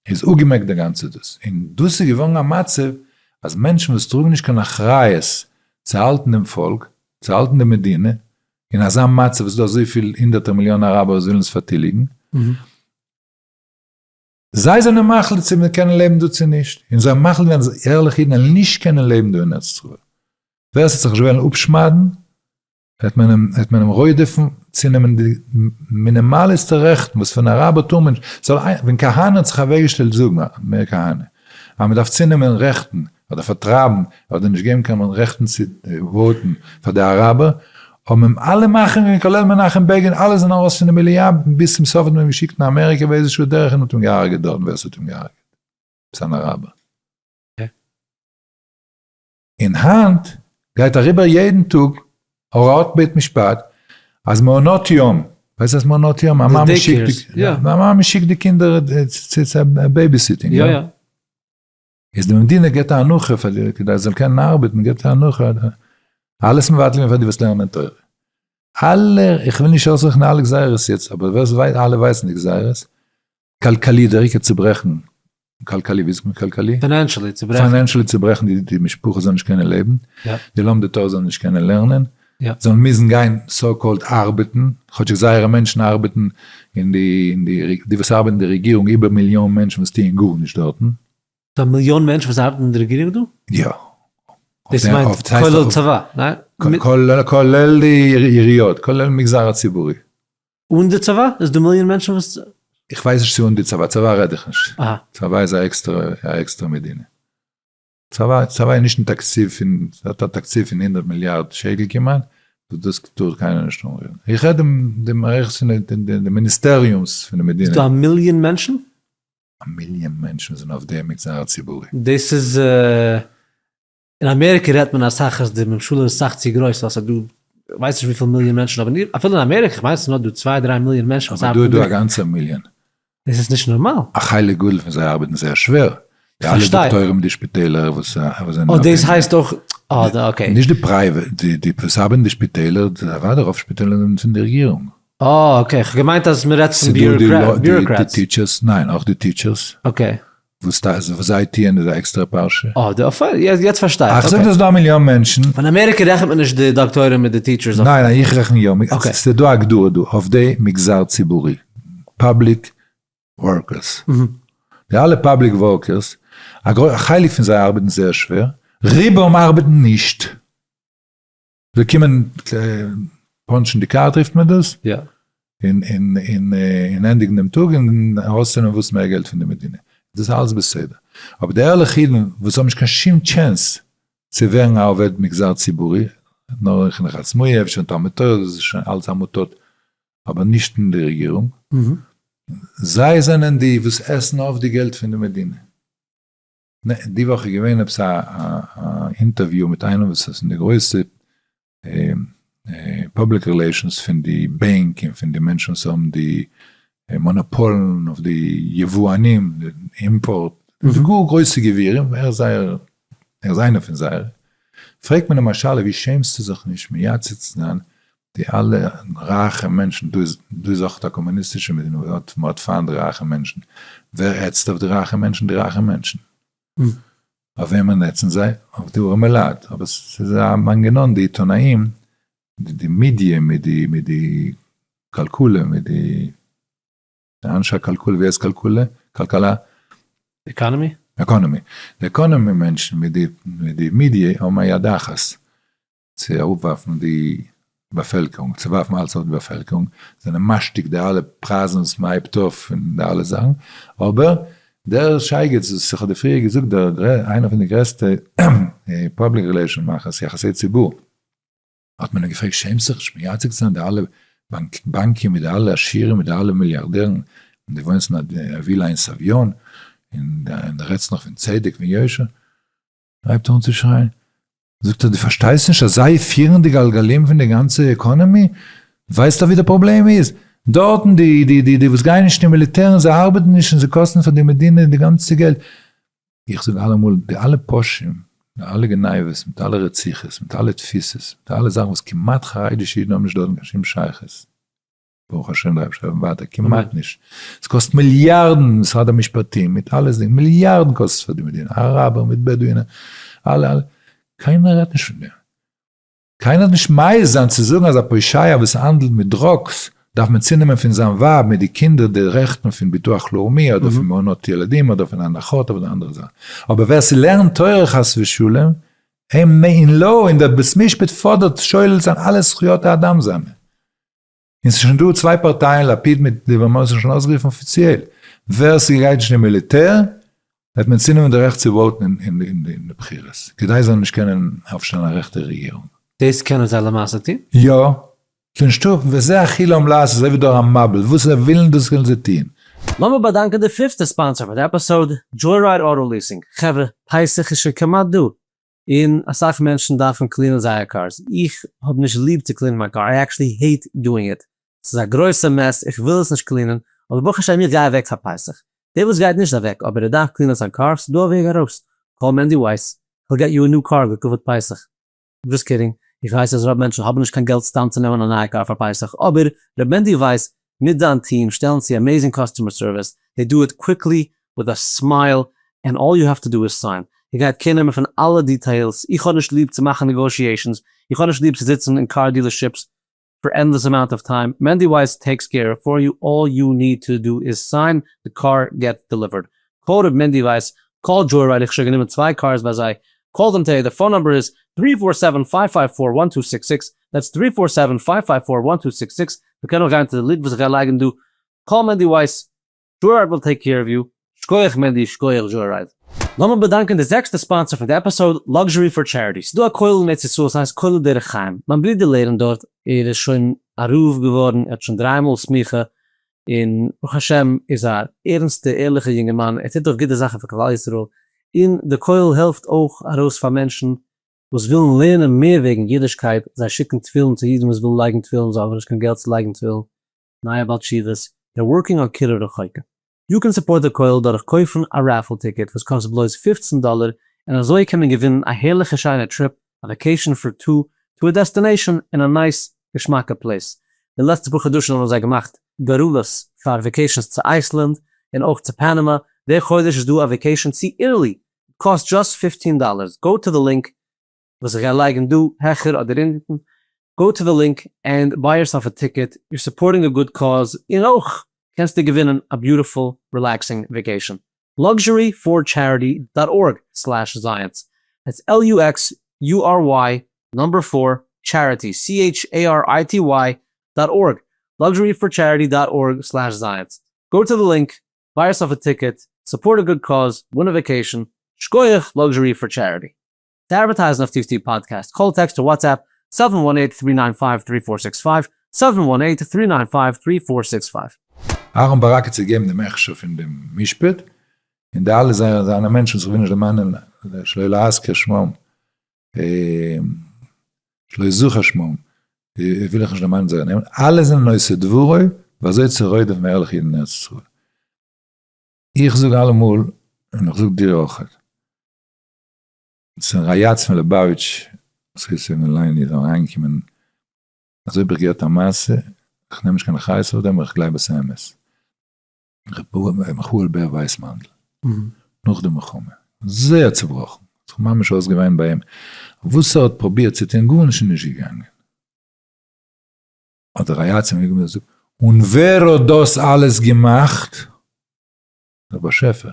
Speaker 2: איז אפגעמעקט די גאנצע דאס, און דאס איז געווארן א מצב אז מענטשן וואס טראגן נישט קיין אחריות צו האלטן דעם פאלק, צו האלטן די מדינה, אין אזא מצב וואס איז דא אזויפיל הונדערטער מיליאן אראבער וואס ווילן עס פארטיליגן, זיי זענען מחליט צו מיר קענען לעבן דא צו נישט, און זיי מחליט ווען ערליכע אידן וועלן נישט קענען לעבן דא אין ארץ ישראל, ווער עס וועט זיך נישט וועלן אפשמד'ן וועט מען אים וועט מען אים רודף'ן צו נעמען די מינימאליסטע רעכטן וואס פון אראבער טאר מען נישט, זאל איינער, ווען כהנא האט זיך אוועקגעשטעלט זאגן, מאיר כהנא, אז מען דארף צו נעמען רעכטן אדער פארטרייבן אדער נישט געבן קיין רעכטן צו וואוטן פאר די אראבער, האבן אים אלע מאכער און כולל מנחם בעגין אלע זענען ארויס פון די מליאה, ביז צום סוף האט מען אים געשיקט אין אמעריקא ווי איזשע שעה דורך און האט אים געהארגעט דארטן ווער ס'האט אים געהארגעט עפעס אן אראבער. און היינט גייט אריבער יעדן טאג הוראת בית משפט אז מעונות יום, ווייסט אז מעונות יום א מאמע שיקט די קינדער צו בעיביסיטינג.
Speaker 1: איז
Speaker 2: די מדינה געט א הנחה פאר די כדי זיי זאלן קענען ארבעטן געט א הנחה אלעס מבטל געווען פאר די וואס לערנען תורה. אלע, איך וויל נישט אויסרעכענען אלע גזירות יעצט, אבער ווער עס ווייסט, אלע ווייסן די גזירות, כלכלידעריגע צוברעכן, כלכלי, ווי זאגט מען כלכלי? פיינענשעלי צוברעכן. פיינענשעלי
Speaker 1: צוברעכן די די
Speaker 2: משפחה זאל נישט קענען לעבן, די לומדי תורה
Speaker 1: זאלן נישט
Speaker 2: קענען לערנען, זאלן מוזן
Speaker 1: גיין
Speaker 2: סאו קאלד ארבעטן, כאטשיג זייערע מענטשן ארבעטן אין די אין די די וואס ארבעטן אין די רעגירונג איבער מיליאן מענטשן וואס טוען גארנישט דארטן. ס'איז א מיליאן
Speaker 1: מענטשן וואס ארבעטן אין די רעגירונג דא? יא.
Speaker 2: דאס
Speaker 1: מיינט כולל צבא, ניין? כולל
Speaker 2: די עיריות, כולל מגזר הציבורי. אן די צבא?
Speaker 1: איז דא מיליאן מענטשן וואס. איך ווייס נישט צו אן
Speaker 2: די צבא, צבא רעד איך נישט. צבא איז א עקסטערע מדינה. צבא איז נישט אין תקציב פון, ס'האט א תקציב פון הונדערט מיליארד שקל כמעט, וואס דאס טאר קיינער נישט אנרירן. איך רעד די מערכת פון די מיניסטעריומס פון די מדינה. איז דא א מיליאן מענטשן?
Speaker 1: א מיליאן
Speaker 2: מענטשן זענען אויף דעם מגזר הציבורי. דאס איז
Speaker 1: אין אמעריקע רעדט מען אסאך אז די ממשלה איז סאך צו גרויס ווייל ס'איז דא כ'ווייס נישט וויפיל מיליאן מענטשן אבער אפילו אין אמעריקע כ'מיין ס'איז נאר דא צוויי דריי מיליאן מענטשן וואס ארבעטן דא. אבער דא איז דא א גאנצער
Speaker 2: מיליאן. דאס איז נישט
Speaker 1: נארמאל. א חלק גדול פון זיי
Speaker 2: ארבעטן זייער שווער. די אלע דאקטוירים אין די שפיטעלער וואס זענען. אוי דאס הייסט
Speaker 1: אויך אוי אקעי. נישט די פרייוועט
Speaker 2: די וואס ארבעטן אין די שפיטעלער אוודאי רוב שפיטעלער זענען פון די רעגירונג. אה אקעי, כ'האב
Speaker 1: געמיינט אז מ'רעדט פון ביוראקרעטס. ניין,
Speaker 2: אויך די טיטשערס. אקעי.
Speaker 1: וואס
Speaker 2: זיי טוען איז א עקסטערע פרשה. אה,
Speaker 1: יעצט פארשטיי איך. כ'זאג דאס דא מיליאן
Speaker 2: מענטשן. אין אמעריקע רעכנט מען
Speaker 1: נישט די דאקטוירים מיט די טיטשערס. ניין, איך רעכן יא.
Speaker 2: ס'איז דא א הגדרה דא אויף די מגזר ציבורי. פאבליק ווארקערס. די אלע פאבליק ווארקערס, א חלק פון זיי ארבעטן זייער שווער, רובם ארבעטן נישט. זיי קומען פאנטשן די קארט רופט מען דאס,
Speaker 1: און
Speaker 2: ענדיגן דעם טאג און ארויסצונעמען וואס מער געלט פון די מדינה, דאס איז אלעס בסדר, אבער די ערליכע אידן וואס האבן נישט קיין שום טשענס צו ווערן א עובד מגזר ציבורי, נאר אין חינוך עצמאי, אפשר אין תלמוד תורה, דאס איז שוין אלץ עמותות, אבער נישט אין די רעגירונג, זיי זענען די וואס עסן אויף די געלט פון די מדינה. די וואך איז געווען עפעס א אינטערוויו מיט איינעם וואס איז אין די גרויסע פובליק רילעישאנס פון די בענק און פון די מענטשן וואס האבן די מאנאפאלן אויף די יבואנים די אימפארט די גאר גרויסע גבירים ער איז זייער ער איז איינער פון זייערע פרעגט מען אים א שאלה ווי שעמסטו זיך נישט מייצג צו זיין די אלע רייכע מענטשן, דא איז דא איז אויך א קאמוניסטישע מדינה וואס האט מ'האט פיינט די רייכע מענטשן, ווער העצט אויף די רייכע מענטשן? די רייכע מענטשן. אויף וועמען העצן זיי? אויף די ארעמע לייט. אבער ס'איז א מנגנון, די עיתונאים, די מידיע מיט די מיט די כלכלה, מיט די אנשי הכלכלה, ווי הייסט כלכלה? כלכלה? עקאנעמי?
Speaker 1: עקאנעמי.
Speaker 2: די עקאנעמי מענטשן מיט די מיט די מידיע האבן א יד אחת. צו אראפווארפן די באפעלקערונג, צו ווארפן אלץ אראפ די באפעלקערונג, זענען משתיק די אלע פרייזן וואס מען הייבט אויף און די אלע זאכן, אבער דער שייגעץ וואס איך האב דיר פריער געזאגט, דער איינער פון די גרעסטע פובליק רילעישאן מאכערס, יחסי ציבור, האט מען אים געפרעגט, שעמסט זיך נישט מייצג צו זיין די אלע בנקים מיט די אלע עשירים מיט די אלע מיליארדערן, און דו וואוינסט אין א ווילא אין סביון, און דו רעדסט נאך פון צדק ויושר. הייבט אן צו שרייען, זאגט ער, דו פארשטייסט נישט אז זיי פירן די גלגלים פון די גאנצע עקאנעמי? דו ווייסט דאך ווי די פראבלעם איז, דארטן די די די די וואס גייען נישט אין מיליטער און זיי ארבעטן נישט און זיי קאסטן פאר די מדינה די גאנצע געלט, איך זאג אלעמאל, די אלע פושעים, די אלע גניבות, מיט אלע רציחות, מיט אלע תפיסות, מיט אלע זאכן וואס כמעט חרדישע אידן האבן נישט דארטן קיין שום שייכות, ברוך השם בלייב איך לעבן ווייטער, כמעט נישט, עס קאסט מיליארדן משרד המשפטים מיט אלע זינגען, מיליארדן קאסט עס פאר די מדינה, אראבער מיט בעדואינער, אלע אלע, קיינער רעדט נישט פון דעם, קיינער האט נישט מעז זיין צו זאגן אז א פושעיה וואס האנדלט מיט דראגס דארף מען צונעמען פון זיין ווייב מיט די קינדער די רעכטן פון ביטוח לאומי אדער פון מעונות ילדים אדער פון הנחות אדער אנדערע זאכן, אבער ווער ס'לערנט תורה חס ושלום אין מעין לא אין דער בית משפט פאדערט שולל זיין אלע זכויות האדם זיינע. און ס'איז שוין דא צוויי פארטייען לפיד מיט ליבערמאן זיך שוין אויסגערופן אפיציעל ווער ס'גייט נישט אין מיליטער וועט מען צונעמען די רעכט צו וואוטן אין די בחירות כדי זיי זאלן נישט קענען אויפשטעלן א רעכטע רעגירונג. דאס קענען זיי
Speaker 1: למעשה טון? יא.
Speaker 2: ס'איז נישטא וזה הכי לאו לעשות אזוי ווי דארא מאביל וואס זיי ווילן דאס וועלן זיי טון. לאמיר באדאנקען
Speaker 1: די פיפטע ספאנסער פאר די עפיסאד, דזשויראיד אוטא ליעסינג, חברה, פסח איז שוין כמעט דא, און אסאך מענטשן דארפן קלינען זייער קארס, איך האב נישט ליב צו קלינען מיין קאר, איי עקשעלי העיט דואינג איט, ס'איז א גרויסע מעס, איך וויל עס נישט קלינען, אבער ברוך השם איך גיי אוועק פאר פסח, דער וואס גייט נישט אוועק אבער ער דארף קלינען זיין קאר, ס'איז דא א וועג ארויס, קאל מענדי ווייס, היל געט יו א ניו קאר לכבוד פסח. דזשאסט קידינג, איך ווייס אז רוב מענטשן האבן נישט קיין געלט סתם צו נעמען א נייע קאר פאר פסח, אבער ר' מענדי ווייס מיט דיין טיעם שטעלן צו עמעזינג קאסטומער סערוויס, דעי דו איט קוויקלי וויט א סמייל ענד אלל יו האוו טו דו איז סיין. איך גיי קעיר נעמען פון אלע דיטעילס, איך האב נישט ליב צו מאכן נעגאושיעישאנס, איך האב נישט ליב צו זיצן אין קאר דיעלערשיפס פאר ענדלעס אמאונט אוו טיים, מענדי ווייס טעיקס קעיר פאר יו, אלל יו ניד טו דו איז סיין, די קאר געטס דעליווערד. קאל רב מענדי ווייס, קאל דזשוירייד איך האב שוין גענומען צוויי קארס ביי זיי, קאל דעם טעי, די פאון נאמבער איז, טרי פאר סעווען פייוו פייוו פאר וואן טו סיקס סיקס, דעטס טרי פאר סעווען פייוו פייוו פאר וואן טו סיקס סיקס, מ'קען אויך גיין צו די לינק וואס איך גיי לייגן דא, קאל מענדי ווייס, זשויראד וויל טעיק קעיר אוו יו, שקויעך מענדי שקויעך זשויראד. לאמיר באדאנקען די זעקסטע ספאנסער פון די עפיסאוד, לאקזשערי פאר טשעריטי, ס'דא א כולל אין ארץ ישראל, ס'הייסט כולל דרך חיים, מיין ברודער לערנט דארט, ער איז שוין א רב געווארן, ער האט שוין דריי מאל סמיכה, און ברוך השם איז א ערנסטע ערליכע יונגערמאן, ער טוט אויף גוטע זאכן פאר כלל ישראל, און די כולל העלפט אויך ארויס פאר מענטשן וואס ווילן לערנען מער וועגן אידישקייט, זיי שיקן תפילין צו אידן וואס ווילן לייגן תפילין, זיי האבן נישט קיין געלט צו לייגן תפילין, נייע בעל תשובות, דער ווארקינג אן קירוב רחוקים. יו קען סופארט די כולל דורך קויפן א רעפעל טיקעט וואס קאסט בלויז פֿופֿצן דאלער און אזוי קען מען געווינען א הערליכע שיינע טריפ א וואקעישן פאר טו טו א דעסטענעישאן אין א נייס געשמאקע פלעיס די לעצטע פאר חדשים האבן זיי געמאכט גורלות פאר וואקעישנס צו אייסלענד און אויך צו פאנעמא די חודש איז דא א וואקעישן צו איטעלי קאסט דזשאסט פיפטין דאלערס, גאו טו די לינק וואס איך גיי לייגן דא העכער אדער אונטן, גאו טו די לינק ענד ביי יורסעלף א טיקעט, יור סופארטינג א גוד קאוז, און אויך קענסטו געווינען א ביוטיפול רילעקסינג וועקעישאן, Luxury for Charity דאט ארג סלעש זייענס, דעטס LUXURY נומבער פֿור טשעריטי CHARITY דאט ארג, Luxury for Charity דאט ארג סלעש זייענס, גאו טו די לינק ביי יורסעלף א טיקעט, סופארט א גוד קאוז, ווין א וואקעישאן, שקויעך, לאקזשערי פאר טשעריטי. צו אדווערטייזן אויף טיפ טיפ פאדקעסט, קאל, טעקסט אר וואטסעפפ, סעווען וואן עיט, טרי ניין פייוו, טרי פאר סיקס פייוו, סעווען וואן
Speaker 2: עיט, טרי ניין פייוו, טרי פאר סיקס פייוו. אהרן ברק האט צו געגעבן דעם הכשר פון דעם משפט, און די אלע זייער זיינע מענטשן וואס איך וויל נישט דערמאנען שלא להזכיר שמם, שלא יזוכר שמם, וויל איך נישט די נאמען זייער נעמען, אלע זענען עושי דברו, ווי אזוי צו רודף'ן ערליכע אידן אין ארץ ישראל. איך זאג אלעמאל, און איך זאג דיר אויך, ס'איז א יעץ פון ליבאוויטש, וואס הייסט ער אין ליין איז אריינגעקומען, אזוי האב איך געהערט א מעשה, איך נעם נישט קיין אחריות אויף דעם, אבער איך גלייב אז ס'איז אמת. ר' מיכאל בער ווייסמאנדל, נאך די מלחמה, זייער צובראכן, האט זיך ממש אויסגעוויינט ביי אים, וואס ער האט פרובירט צו טון, גארנישט איז נישט געגאנגען, האט די רייצער אנגעקומען און געזאגט, און ווער האט דאס אלעס געמאכט? דער באשעפער,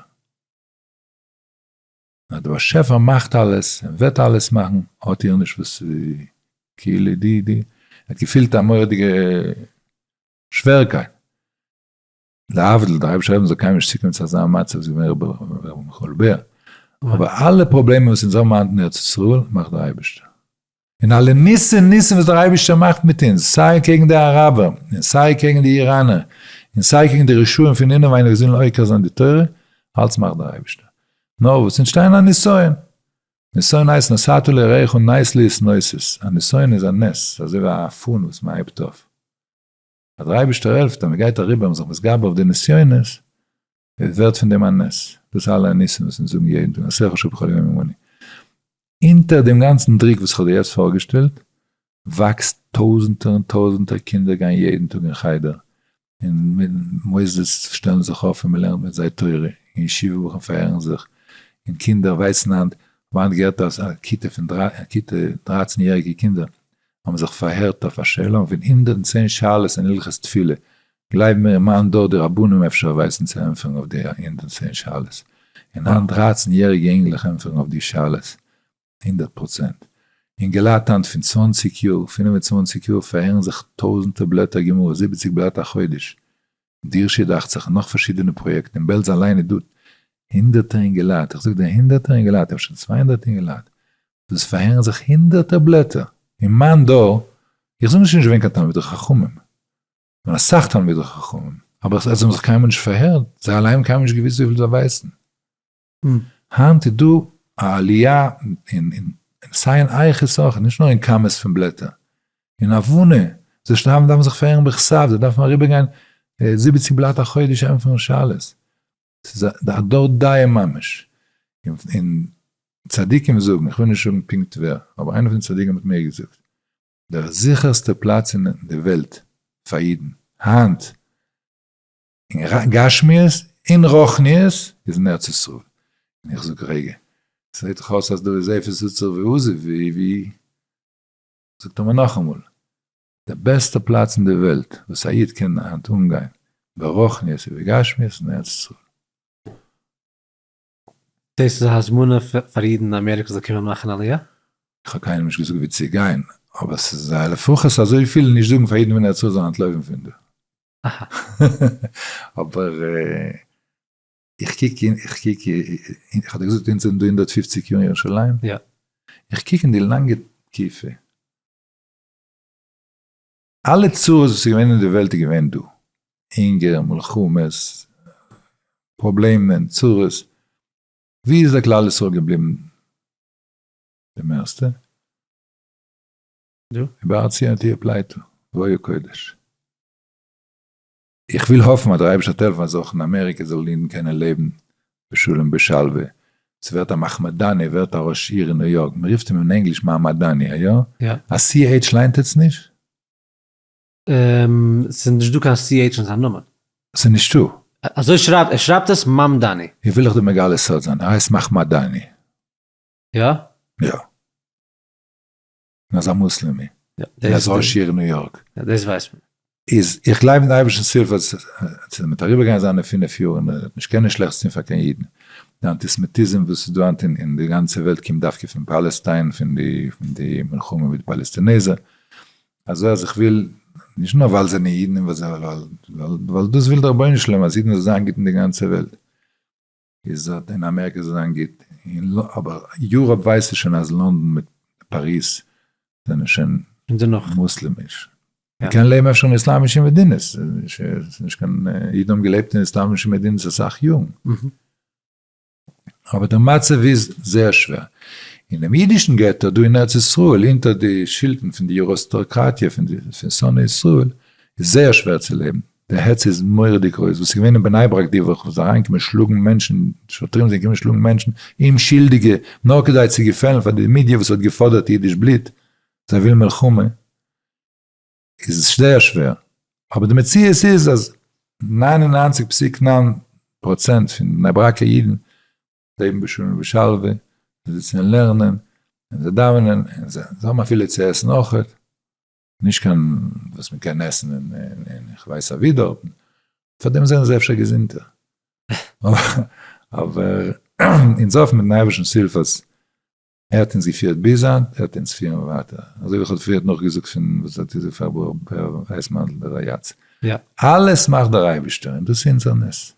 Speaker 2: אז דער באשעפער מאכט אלעס און וועט אלעס מאכן, האט איר נישט וואס צו, כאילו די די, ער האט געפילט א מורא'דיגע שווערקייט, להבדיל, דער אייבערשטער האט אונז קיינמאל נישט צוקעמט צו אזא מצב ווי עס איז געווען רבי מיכאל בער, אבער אלע פראבלעמען וואס אונז האבן היינט אין ארץ ישראל מאכט דער אייבערשטער. און אלע ניסים ניסים וואס דער אייבערשטער מאכט מיט אונז, סיי קעגן די אראבער, און סיי קעגן די איראנער, און סיי קעגן די רשעים פון אינעווייניג וואס ווילן עוקר זיין די תורה, אלץ מאכט דער אייבערשטער. נאר וואס, אונז שטייען אין א נסיון. נסיון הייסט נסעת לרעיך נסלית נוסס, א נסיון איז א נס, ס'איז אזוי ווי א פאן וואס מען הייבט אויף. אז דער אייבערשטער העלפט אז מען גייט אריבער און מען איז זיך מתגבר אויף די נסיונות, עס ווערט פון דעם א נס, דאס אלע ניסים וואס אונז זאגן יעדן טאג עשה חשוב בכל יום ומעון, אונטער דעם גאנצן דרוק וואס איך האב דיר יעצט פארגעשטעלט, וואקסט טויזנטער און טויזנטער קינדער גייען יעדן טאג אין חדר, אין מוסדות שטעלן זיך אויף און מען לערנט מיט זיי תורה, אין ישיבה בחורים פארהערן זיך, און קינדער ווייסן היינט, וואנט געהערט אז א כיתה פון דרייצן יעריגע קינדער האבן זיך פארהערט אויף א שאלה און פון הונדערט און צען שאלות אין הלכות תפילה גלייב מיר אין מיין דור די רבנים אפשר ווייסן צו ענטפערן אויף די הונדערט און צען שאלות און היינט דרייצן יעריגע אינגלעך ענטפערן אויף די שאלות הונדערט פראצענט. אינגעלייט היינט פון צוואנציג יאר פינף און צוואנציג יאר פארהערן זיך טויזענטער בלעטער גמרא זיבעציג בלאט א חודש דירשי דאכצעך און נאך פארשידענע פראיעקטן אין בעלז אליין איז דא הונדערטער אינגעלייט איך זאג דיר הונדערטער אינגעלייט אפשר צוויי הונדערט אינגעלייט דאס פארהערן זיך הונדערטער בלעטער, אין מיין דור, איך זאג נישט נישט געווען קיין תלמידי חכמים, געווען אסאך תלמידי חכמים, אבער עס האבן זיך קיינמאל נישט פארהערט, זיי אליין האבן קיינמאל נישט געוויסט וויפיל זיי ווייסן. היינט איז דא א עליה אין סיין עייך איז סאך, נישט נאר אין כמות פון בלעטער, אין הבנה, זיי שרייבן דארפן זיך פארהערן בכסף, זיי דארפן אריבערגיין זיבעציג בלאט א חודש ענטפערן שאלות, ס'איז א דור דאיעם ממש, און צדיקים זאגן, איך וויל נישט זאגן פונקט ווער, אבער איינער פון די צדיקים האט מיר געזאגט, דער זיכערסטע פלאץ אין די וועלט פאר אידן היינט, אין גשמיות און רוחניות, איז אין ארץ ישראל. און איך זאג, רגע, ס'זעט דאך אויס אז דא איז עפעס זצוק ועוזב, ווי? זאגט ער מיר נאכאמאל, די בעסטע פלאץ אין די וועלט וואס א איד קען היינט אנגיין ברחניות ובגשמיות איז אין ארץ ישראל. דאס
Speaker 1: איז א הזמנה פאר אידן אין אמעריקא זאל קומען מאכן עליה? איך האב קיינעם נישט
Speaker 2: געזאגט ווי צו גיין, אבער ס'איז א לפחות אזויפיל נישט זאגן פאר אידן פון ארץ ישראל זאלן אנטלויפן פון דא. אבער איך קוק אין, איך קוק
Speaker 1: אין,
Speaker 2: איך האב דיר געזאגט אונז זענען דא הונדערט פופציג יאר אין ירושלים? יא. איך
Speaker 1: קוק אין די
Speaker 2: לאנגע תקופה, אלע צרות וואס איז געווען אין די וועלט איז געווען דא, הונגער, מלחמות, פראבלעמען, צרות, ווי איז דער כלל ישראל געבליבן די מערסטע?
Speaker 1: דא. ובארצי אנכי אפלייתא,
Speaker 2: וואויל קודש. איך וויל האפן אז דער אייבערשטער וועט העלפן אז אויך אין אמעריקע זאלן אידן קענען לעבן בשלום בשלווה. ס'ווערט א מחמדאני ווערט א ראש עיר אין ניו יארק, מען רופט אים אין ענגליש מעמדני, איא? א CH ליינט עטס נישט?
Speaker 1: ס'איז
Speaker 2: נישט דא קיין CH
Speaker 1: אין זיין נאמען. ס'איז נישטא?
Speaker 2: אזוי שרייבט, ער
Speaker 1: שרייבט עס מאמדאני. איך וויל לכ' דא מגלה
Speaker 2: סוד זיין, ער הייסט מאכמאדאני. יא?
Speaker 1: יא.
Speaker 2: און אזא מוסלעמי, און אזא
Speaker 1: עשירע ניו
Speaker 2: יארק. דאס ווייסט מען.
Speaker 1: איז איך גלייב אין
Speaker 2: די אייבערשטנס הילף אז עס וועט אריבערגיין זיינע פינף יאר און ער וועט נישט קענען שלעכטס טון פאר קיין אידן. די אנטיסעמיטיזם וואס איז דא היינט אין די גאנצע וועלט קומט דווקא פון פאלעסטיין, פון די מלחמה מיט די פאלעסטינעזער. אזוי אז איך וויל, נישט נאר ווייל זיי זענען אידן, ווייל דאס וויל דער רבונו של עולם אז אידן זאלן זיין גוט אין די גאנצע וועלט. איז אט אין אמעריקע זאל זיין גוט, אבער יוראפ ווייסטו שוין אז לאנדאן מיט פאריז זענען שוין מוסלעמיש, מ'קען לעבן אפשר אין איסלאמישע מדינות, ס'איז נישט קיין, אידן האבן געלעבט אין איסלאמישע מדינות אסאך יארן, אבער דער מצב איז זייער שווער, אינעם אידישן געטא דא אין ארץ ישראל אונטער די שלטון פון די יוראסטאקראטיע פון שונאי ישראל איז זייער שווער צו לעבן. די העץ איז מוראדיג גרויס, וואס איז געווען אין בני ברק די וואך, וואס איז אריינגעקומען שלאגן מענטשן, שוטרים זענען געקומען שלאגן מענטשן, אומשילדיגע, נאר כדי צו געפעלן פאר די מידיע וואס האט געפאדערט אידיש בלוט, זיי ווילן מלחמה, איז זייער שווער, אבער די מציאות איז אז נײַן און נײַנציק פסיק נײַן פראצענט פון בני ברק'ע אידן לעבן בשלום ובשלווה, זיי זיצן און לערנען, און זיי דאווענען, און זיי האבן אפילו צו עסן אויך. נישט קיין וואס מען קען עסן אין איך ווייס אווי דארטן, פארדעם זענען זיי אפשר געזונטער. אבער אונז האפן מיטן אייבערשטנ'ס הילף אז ער האט אונז געפירט ביז היינט, ער וועט אונז פירן ווייטער. אזוי ווי איך האב פריערט נאכגעזאגט פון וואס האט געזאגט פאר ב ר ווייסמאנדל דער א י,
Speaker 1: אלעס מאכט
Speaker 2: דער אייבערשטער און דאס איז אונזער נס.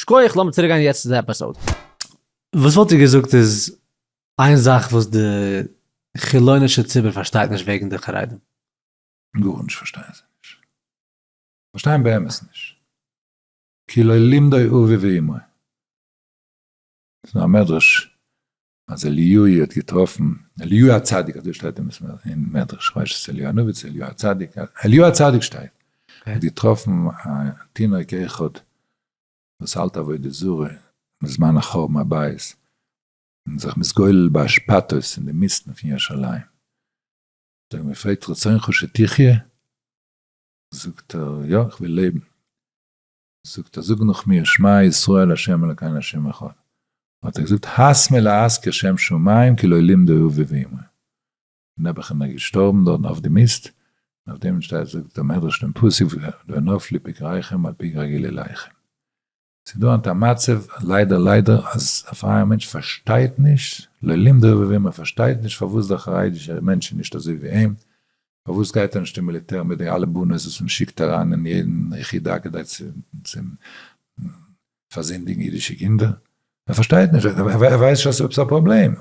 Speaker 1: שקויעך, לאמיר צוריק גיין יעצט צו די עפיסאוד. וואס וואלט איר געזאגט איז איין זאך וואס די חילונישע ציבור פארשטייט נישט וועגן די חרדים? גארנישט
Speaker 2: פארשטייען זיי נישט, פארשטייען באמת נישט, כי לא לימדו אבי ואמי, ס'איז נאר א מדרש, אז אליהו האט געטראפן, אליהו הצדיק, אזוי שטייט אין מדרש, כ'ווייס נישט צו אליהו הנביא צו אליהו הצדיק, אליהו הצדיק שטייט, האט געטראפן א תינוק אחד וואס האלט עבודה זרה בזמן החורבן הבית, און זיך מתגולל באשפתות אין די מיסטן פון ירושלים, האט ער אים געפרעגט רצונך שתחיה? זאגט ער יא, איך וויל לעבן. זאגט ער זאג נאך מיר שמע ישראל ה' אלקינו ה' אחד, האט ער געזאגט הס מלהזכיר שם שמים כי לא לימדו הוא ואמרי, און נעבעך איז ער געשטארבן דארטן אויף די מיסט, און אויף דעם שטייט זאגט דער מדרש דעם פסוק לא נפלי פגריכם על פגרי גילי ליכם. ס'איז דא היינט א מצב ליידער ליידער אז א פרייער מענטש פארשטייט נישט, לא לימדו הוא ואמרי, פארשטייט נישט פארוואס דער חרדישער מענטש איז נישט אזוי ווי אים, פארוואס גייט ער נישט אין מיליטער מיט די אלע באנעס וואס מען שיקט אריין אין יעדן יחידה כדי צו פארזינדיגן אידישע קינדער? ער פארשטייט נישט, ער ווייסט שוין ס'איז עפעס א פראבלעם,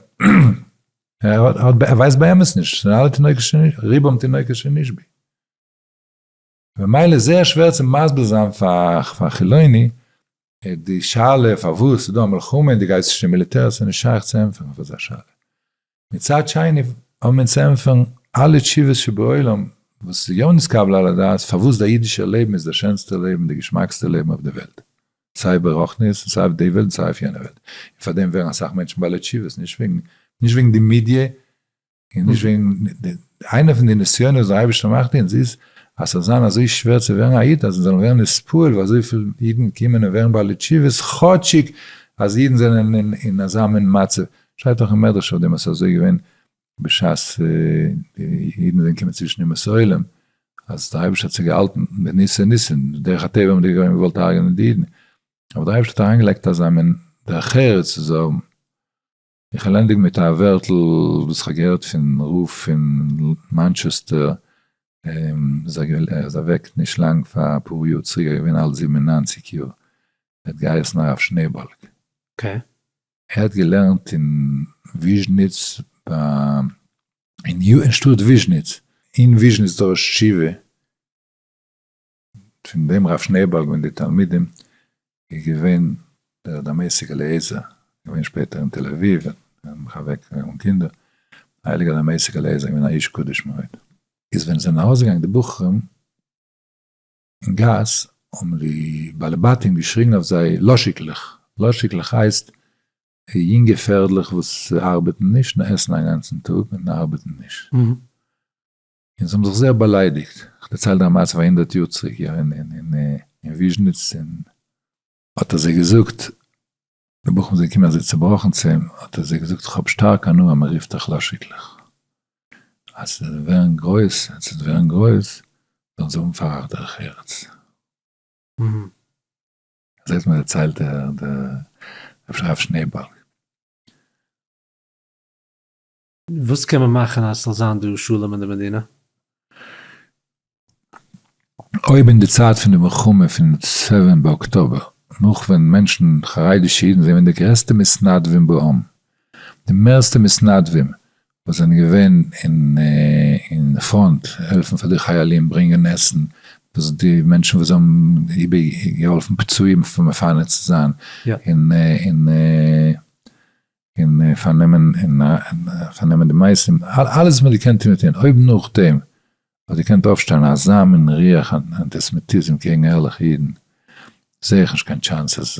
Speaker 2: ער ווייסט באמת נישט, ס'זענען אלע תינוקות שנשבי, רובם תינוקות שנשבי. ממילא איז זייער שווער צו מסביר זיין פאר חילוני די שאלה פארוואס איז דא א מלחמה און די גייסט נישט אין מיליטער עס איז נישט שייך צו ענטפערן אויף אזא שאלה. מצד שני האבן אונז צו ענטפערן אלע תשובות שבעולם וואס איז יא נתקבל על הדעת פארוואס די אידישער לעבן איז די שענסטע לעבן די געשמאקסטע לעבן אויף די וועלט. סיי ברוחניות און סיי אויף די וועלט און סיי אויף יענע וועלט. און פאר דעם ווערן אסאך מענטשן בעלי תשובות נישט וועגן נישט וועגן די מידיע און נישט וועגן די, איינע פון די נסיונות וואס דער אייבערשטער מאכט אונז איז, אז ס'זאל זיין אזוי שווער צו ווערן א איד, אז אונז זאלן ווערן נספּועל ווי אזויפיל אידן קומען און ווערן בעלי תשובות, כאטשיג אז אידן זענען אין אזא מין מצב, שטייט דאך אין מדרש אויף דעם אז ס'איז אזוי געווען בשעת די אידן זענען געקומען צווישן אומות העולם, אז דער אייבערשטער האט זיך געהאלטן מיט ניסי ניסים, דרך הטבע האבן די גוים געוואלט הרג'נען די אידן, אבער דער אייבערשטער האט אריינגעלייגט אזא מין דרך ארץ צו זיי האבן. איך וועל ענדיגן מיט א ווערטל וואס איך האב געהערט פון רב פון מאנטשעסטער, ער איז אוועק נישט לאנג פאר אפאר יאר צוריק, ער איז געווען אלט זיבן און נײַנציק יאר, ער האט געהייסן הרב שנעבאלג,
Speaker 1: ער האט
Speaker 2: געלערנט אין וויזשניץ ביים אין שטאט וויזשניץ, אין וויזשניץ דורש תשובה, פון דעם רב שנעעבאלג מיט די תלמידים איז געווען דער דמשק אליעזר, געווען שפעטער אין תל אביב, מחבק אן קינדער, הייליגער דמשק אליעזר געווען א איש קדוש מאוד. איז ווען עס זענען ארויסגעגאנגען די בחורים אין גאס האבן די בעלי בתים געשריגן אויף זיי לאשיקלעך, לאשיקלעך הייסט יונגע פערדלעך וואס ארבעטן נישט און עסן א גאנצן טאג און ארבעטן נישט. און זיי האבן זיך זייער באליידיגט, איך דערצייל דיר א מעשה פון א הונדערט יאר צוריק יא אין וויזשניץ און האט ער זיי געזאגט, די בחורים זענען געקומען אזוי צובראכן צו אים, האט ער זיי געזאגט איך האב שטארק הנאה אז מען רופט דיך לאשיקלעך, אז ס'זאל ווערן גרויס, אז ס'זאל ווערן גרויס זאלן זיי האבן פאר אייך דרך ארץ. אזוי האט מיר דערציילט דער רב שניאורבאלג.
Speaker 1: וואס קען מען מאכן
Speaker 2: אז ס'זאל זיין דא שלום אין די מדינה? אויב אין די צייט פון די מלחמה פון סעווען באקטאבער נאך ווען מענטשן חרדישע אידן זענען די גרעסטע מתנדבים בעם די מערסטע מתנדבים וואס זענען געווען אין פראנט העלפן פאר די חיילים ברענגען עסן וואס די מענטשן וואס האבן געהאלפן פצועים מפנה צו זיין אין. און פארנעמען און פארנעמען די מייסים, אלעס וואס מען האט געקענט טון געטון, אויב נאכדעם האט געקענט אויפשטיין אזא מין ריח אנטיסעמיטיזם קעגן ערליכע אידן, זעה איך נישט קיין טשאנס אז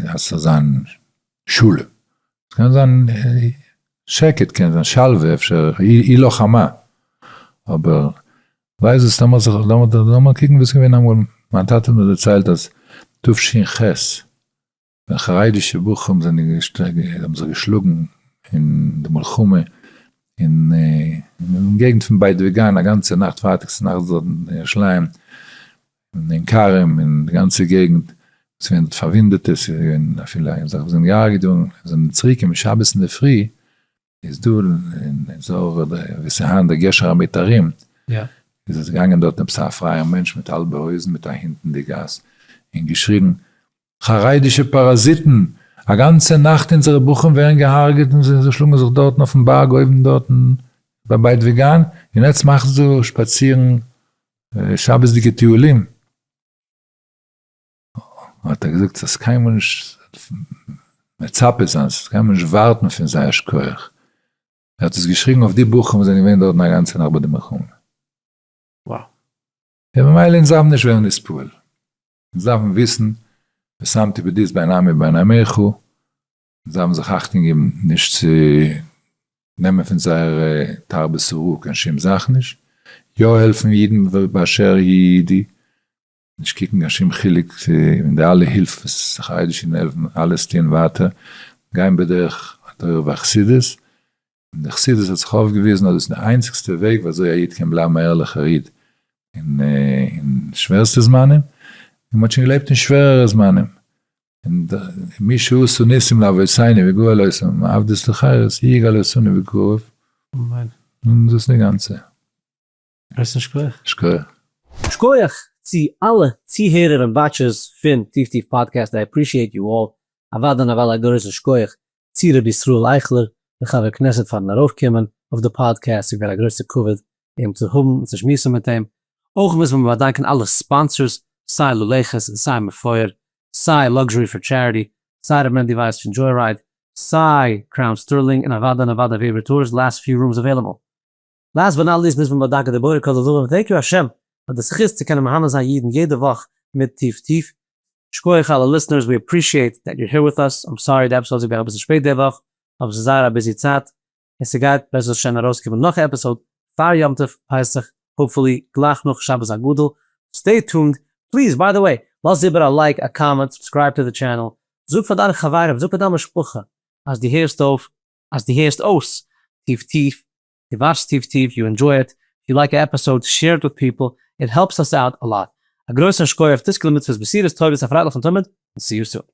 Speaker 2: עס זאל זיין שלום, עס קען זיין שקט, קען זיין שלווה, אפשר אי לא חמה, אבער ווייזט דאס לאמיר זיך, לאמיר קוקן וואס איז געווען אמאל, מיין טאטע האט מיר דערציילט אז תשכ ח, ווען חרדישע בחורים זענען האבן זיך געשלאגן אין די מלחמה אין געגנט פון בית וגן א גאנצע נאכט פארטאגס נאכטס דארט אין ירושלים אין עין כרם אין די גאנצע געגנט עס איז געווען פארוואונדעטע עס איז געווען אפילו זיי זענען געהארגעט געווארן זענען צוריק געקומען שבת אינדערפרי איז דא אין אזור ווי ס'היינט די גשר המיתרים, איז
Speaker 1: עס געגאנגען דארט
Speaker 2: עפעס א פרייער מענטש מיט האלבע הויזן מיט א הינט אין די גאס, און געשריגן, חרדישע פאראזיטן! א גאנצע נאכט אונזערע בחורים ווערן געהארגעט און זיי שלאגן זיך דארטן אויפן בארג אויבן דארטן ביי בית וגן, און עטס מאכטס דא שפאצירן שבת'דיגע טיולים? האט ער געזאגט ס'איז קיינמאל נישט מצפה זיין, ס'איז קיינמאל נישט ווארטן פון זיי א שכח. ער האט עס געשריגן אויף די בחורים וואס זענען געווען דארטן א גאנצע נאכט ביי די מלחמה. וואו.
Speaker 1: און
Speaker 2: ממילא אונז דארפן נישט ווערן נספעל. אונז דארפן וויסן ושמתי בדית בין עמי ובין עמיך, אונז דארפן זיך אכטונג געבן נישט צו נעמען פון זייער תרבות אראפ קיין שום זאך נישט, יא העלפן אידן באשר היא אידי, נישט קוקן קיין שום חילוק אין די אלע הילף וואס חרדישע און עלפן אלעס טוען ווייטער גיין בדרך התורה והחסידות, און די חסידות האט זיך אויפגעוויזן אז דאס איז די איינציגסטע וועג ווי אזוי א איד קען בלייבן א ערליכער איד אין שווערסטע זמנים, און מ'האט שוין געלעבט אין שווערערע זמנים, מי שעשו ניסים לאבותינו וגאל אותם מעבדות לחירות יגאל אותנו בקרוב, און דאס איז די גאנצע.
Speaker 1: הייסן
Speaker 2: שקויעך.
Speaker 1: שקויעך. שקויעך צו אלע צוהערער און וואטשערס פון טיף טיף פאדקעסט, איי עפרישיעט יו אלל, אוודאי און אוודאי א גרויסן שקויעך צו רבי ישראל אייכלער דער חבר כנסת פארן ארויף קומען אויף די פאדקעסט, ס'איז געווען א גרויסע כבוד אים צו האבן און צו שמועסן מיט אים, אויך מוז מען באדאנקען אלע ספאנסערס סיי לולעכעס און סיי מפואר, סיי לאקזשערי פאר טשעריטי, סיי ר' מענדי ווייס פון דזשוי רייד, סיי קראון סטערלינג און אוודאי און אוודאי וועבער טארס, לאסט פיו רומס עוועליבעל. לאסט באט נאט ליסט מוז מען באדאנקען די בורא כל עולמים און טענק יו השם פאר די זכות צו קענען מהנה זיין אידן יעדע וואך מיט טיף טיף. שקויעך אלע ליסטנערס ווי עפרישיעט דעט יור העיר וויט אס, איים סארי די עפיסאוד איז געווען אביסל שפעט די וואך אבער ס'איז זייער א ביזי צייט און ס'גייט בעזרת השם ארויסקומען נאך עפיסאוד פאר יום טוב פסח האופפולי גלייך נאך שבת הגדול סטעי טונד פליז ביי די וועי לאז איבער א לייק א קאמענט סובסקרייב טו די טשענעל זאג פאר דיינע חברים זאג פאר דיין משפחה אז די הערסט אויף אז די הערסט אויס טיף טיף די וואטשסט טיף טיף, יו ענדזשוי איט, איף יו לייק א עפיסאוד, שעיר איט וויט פיפל, איט העלפס אס אוט א לאט. א גרויסן שכח, תזכה למצוות, בשורות טובות, א פרייליכן תמיד, און סיו סון.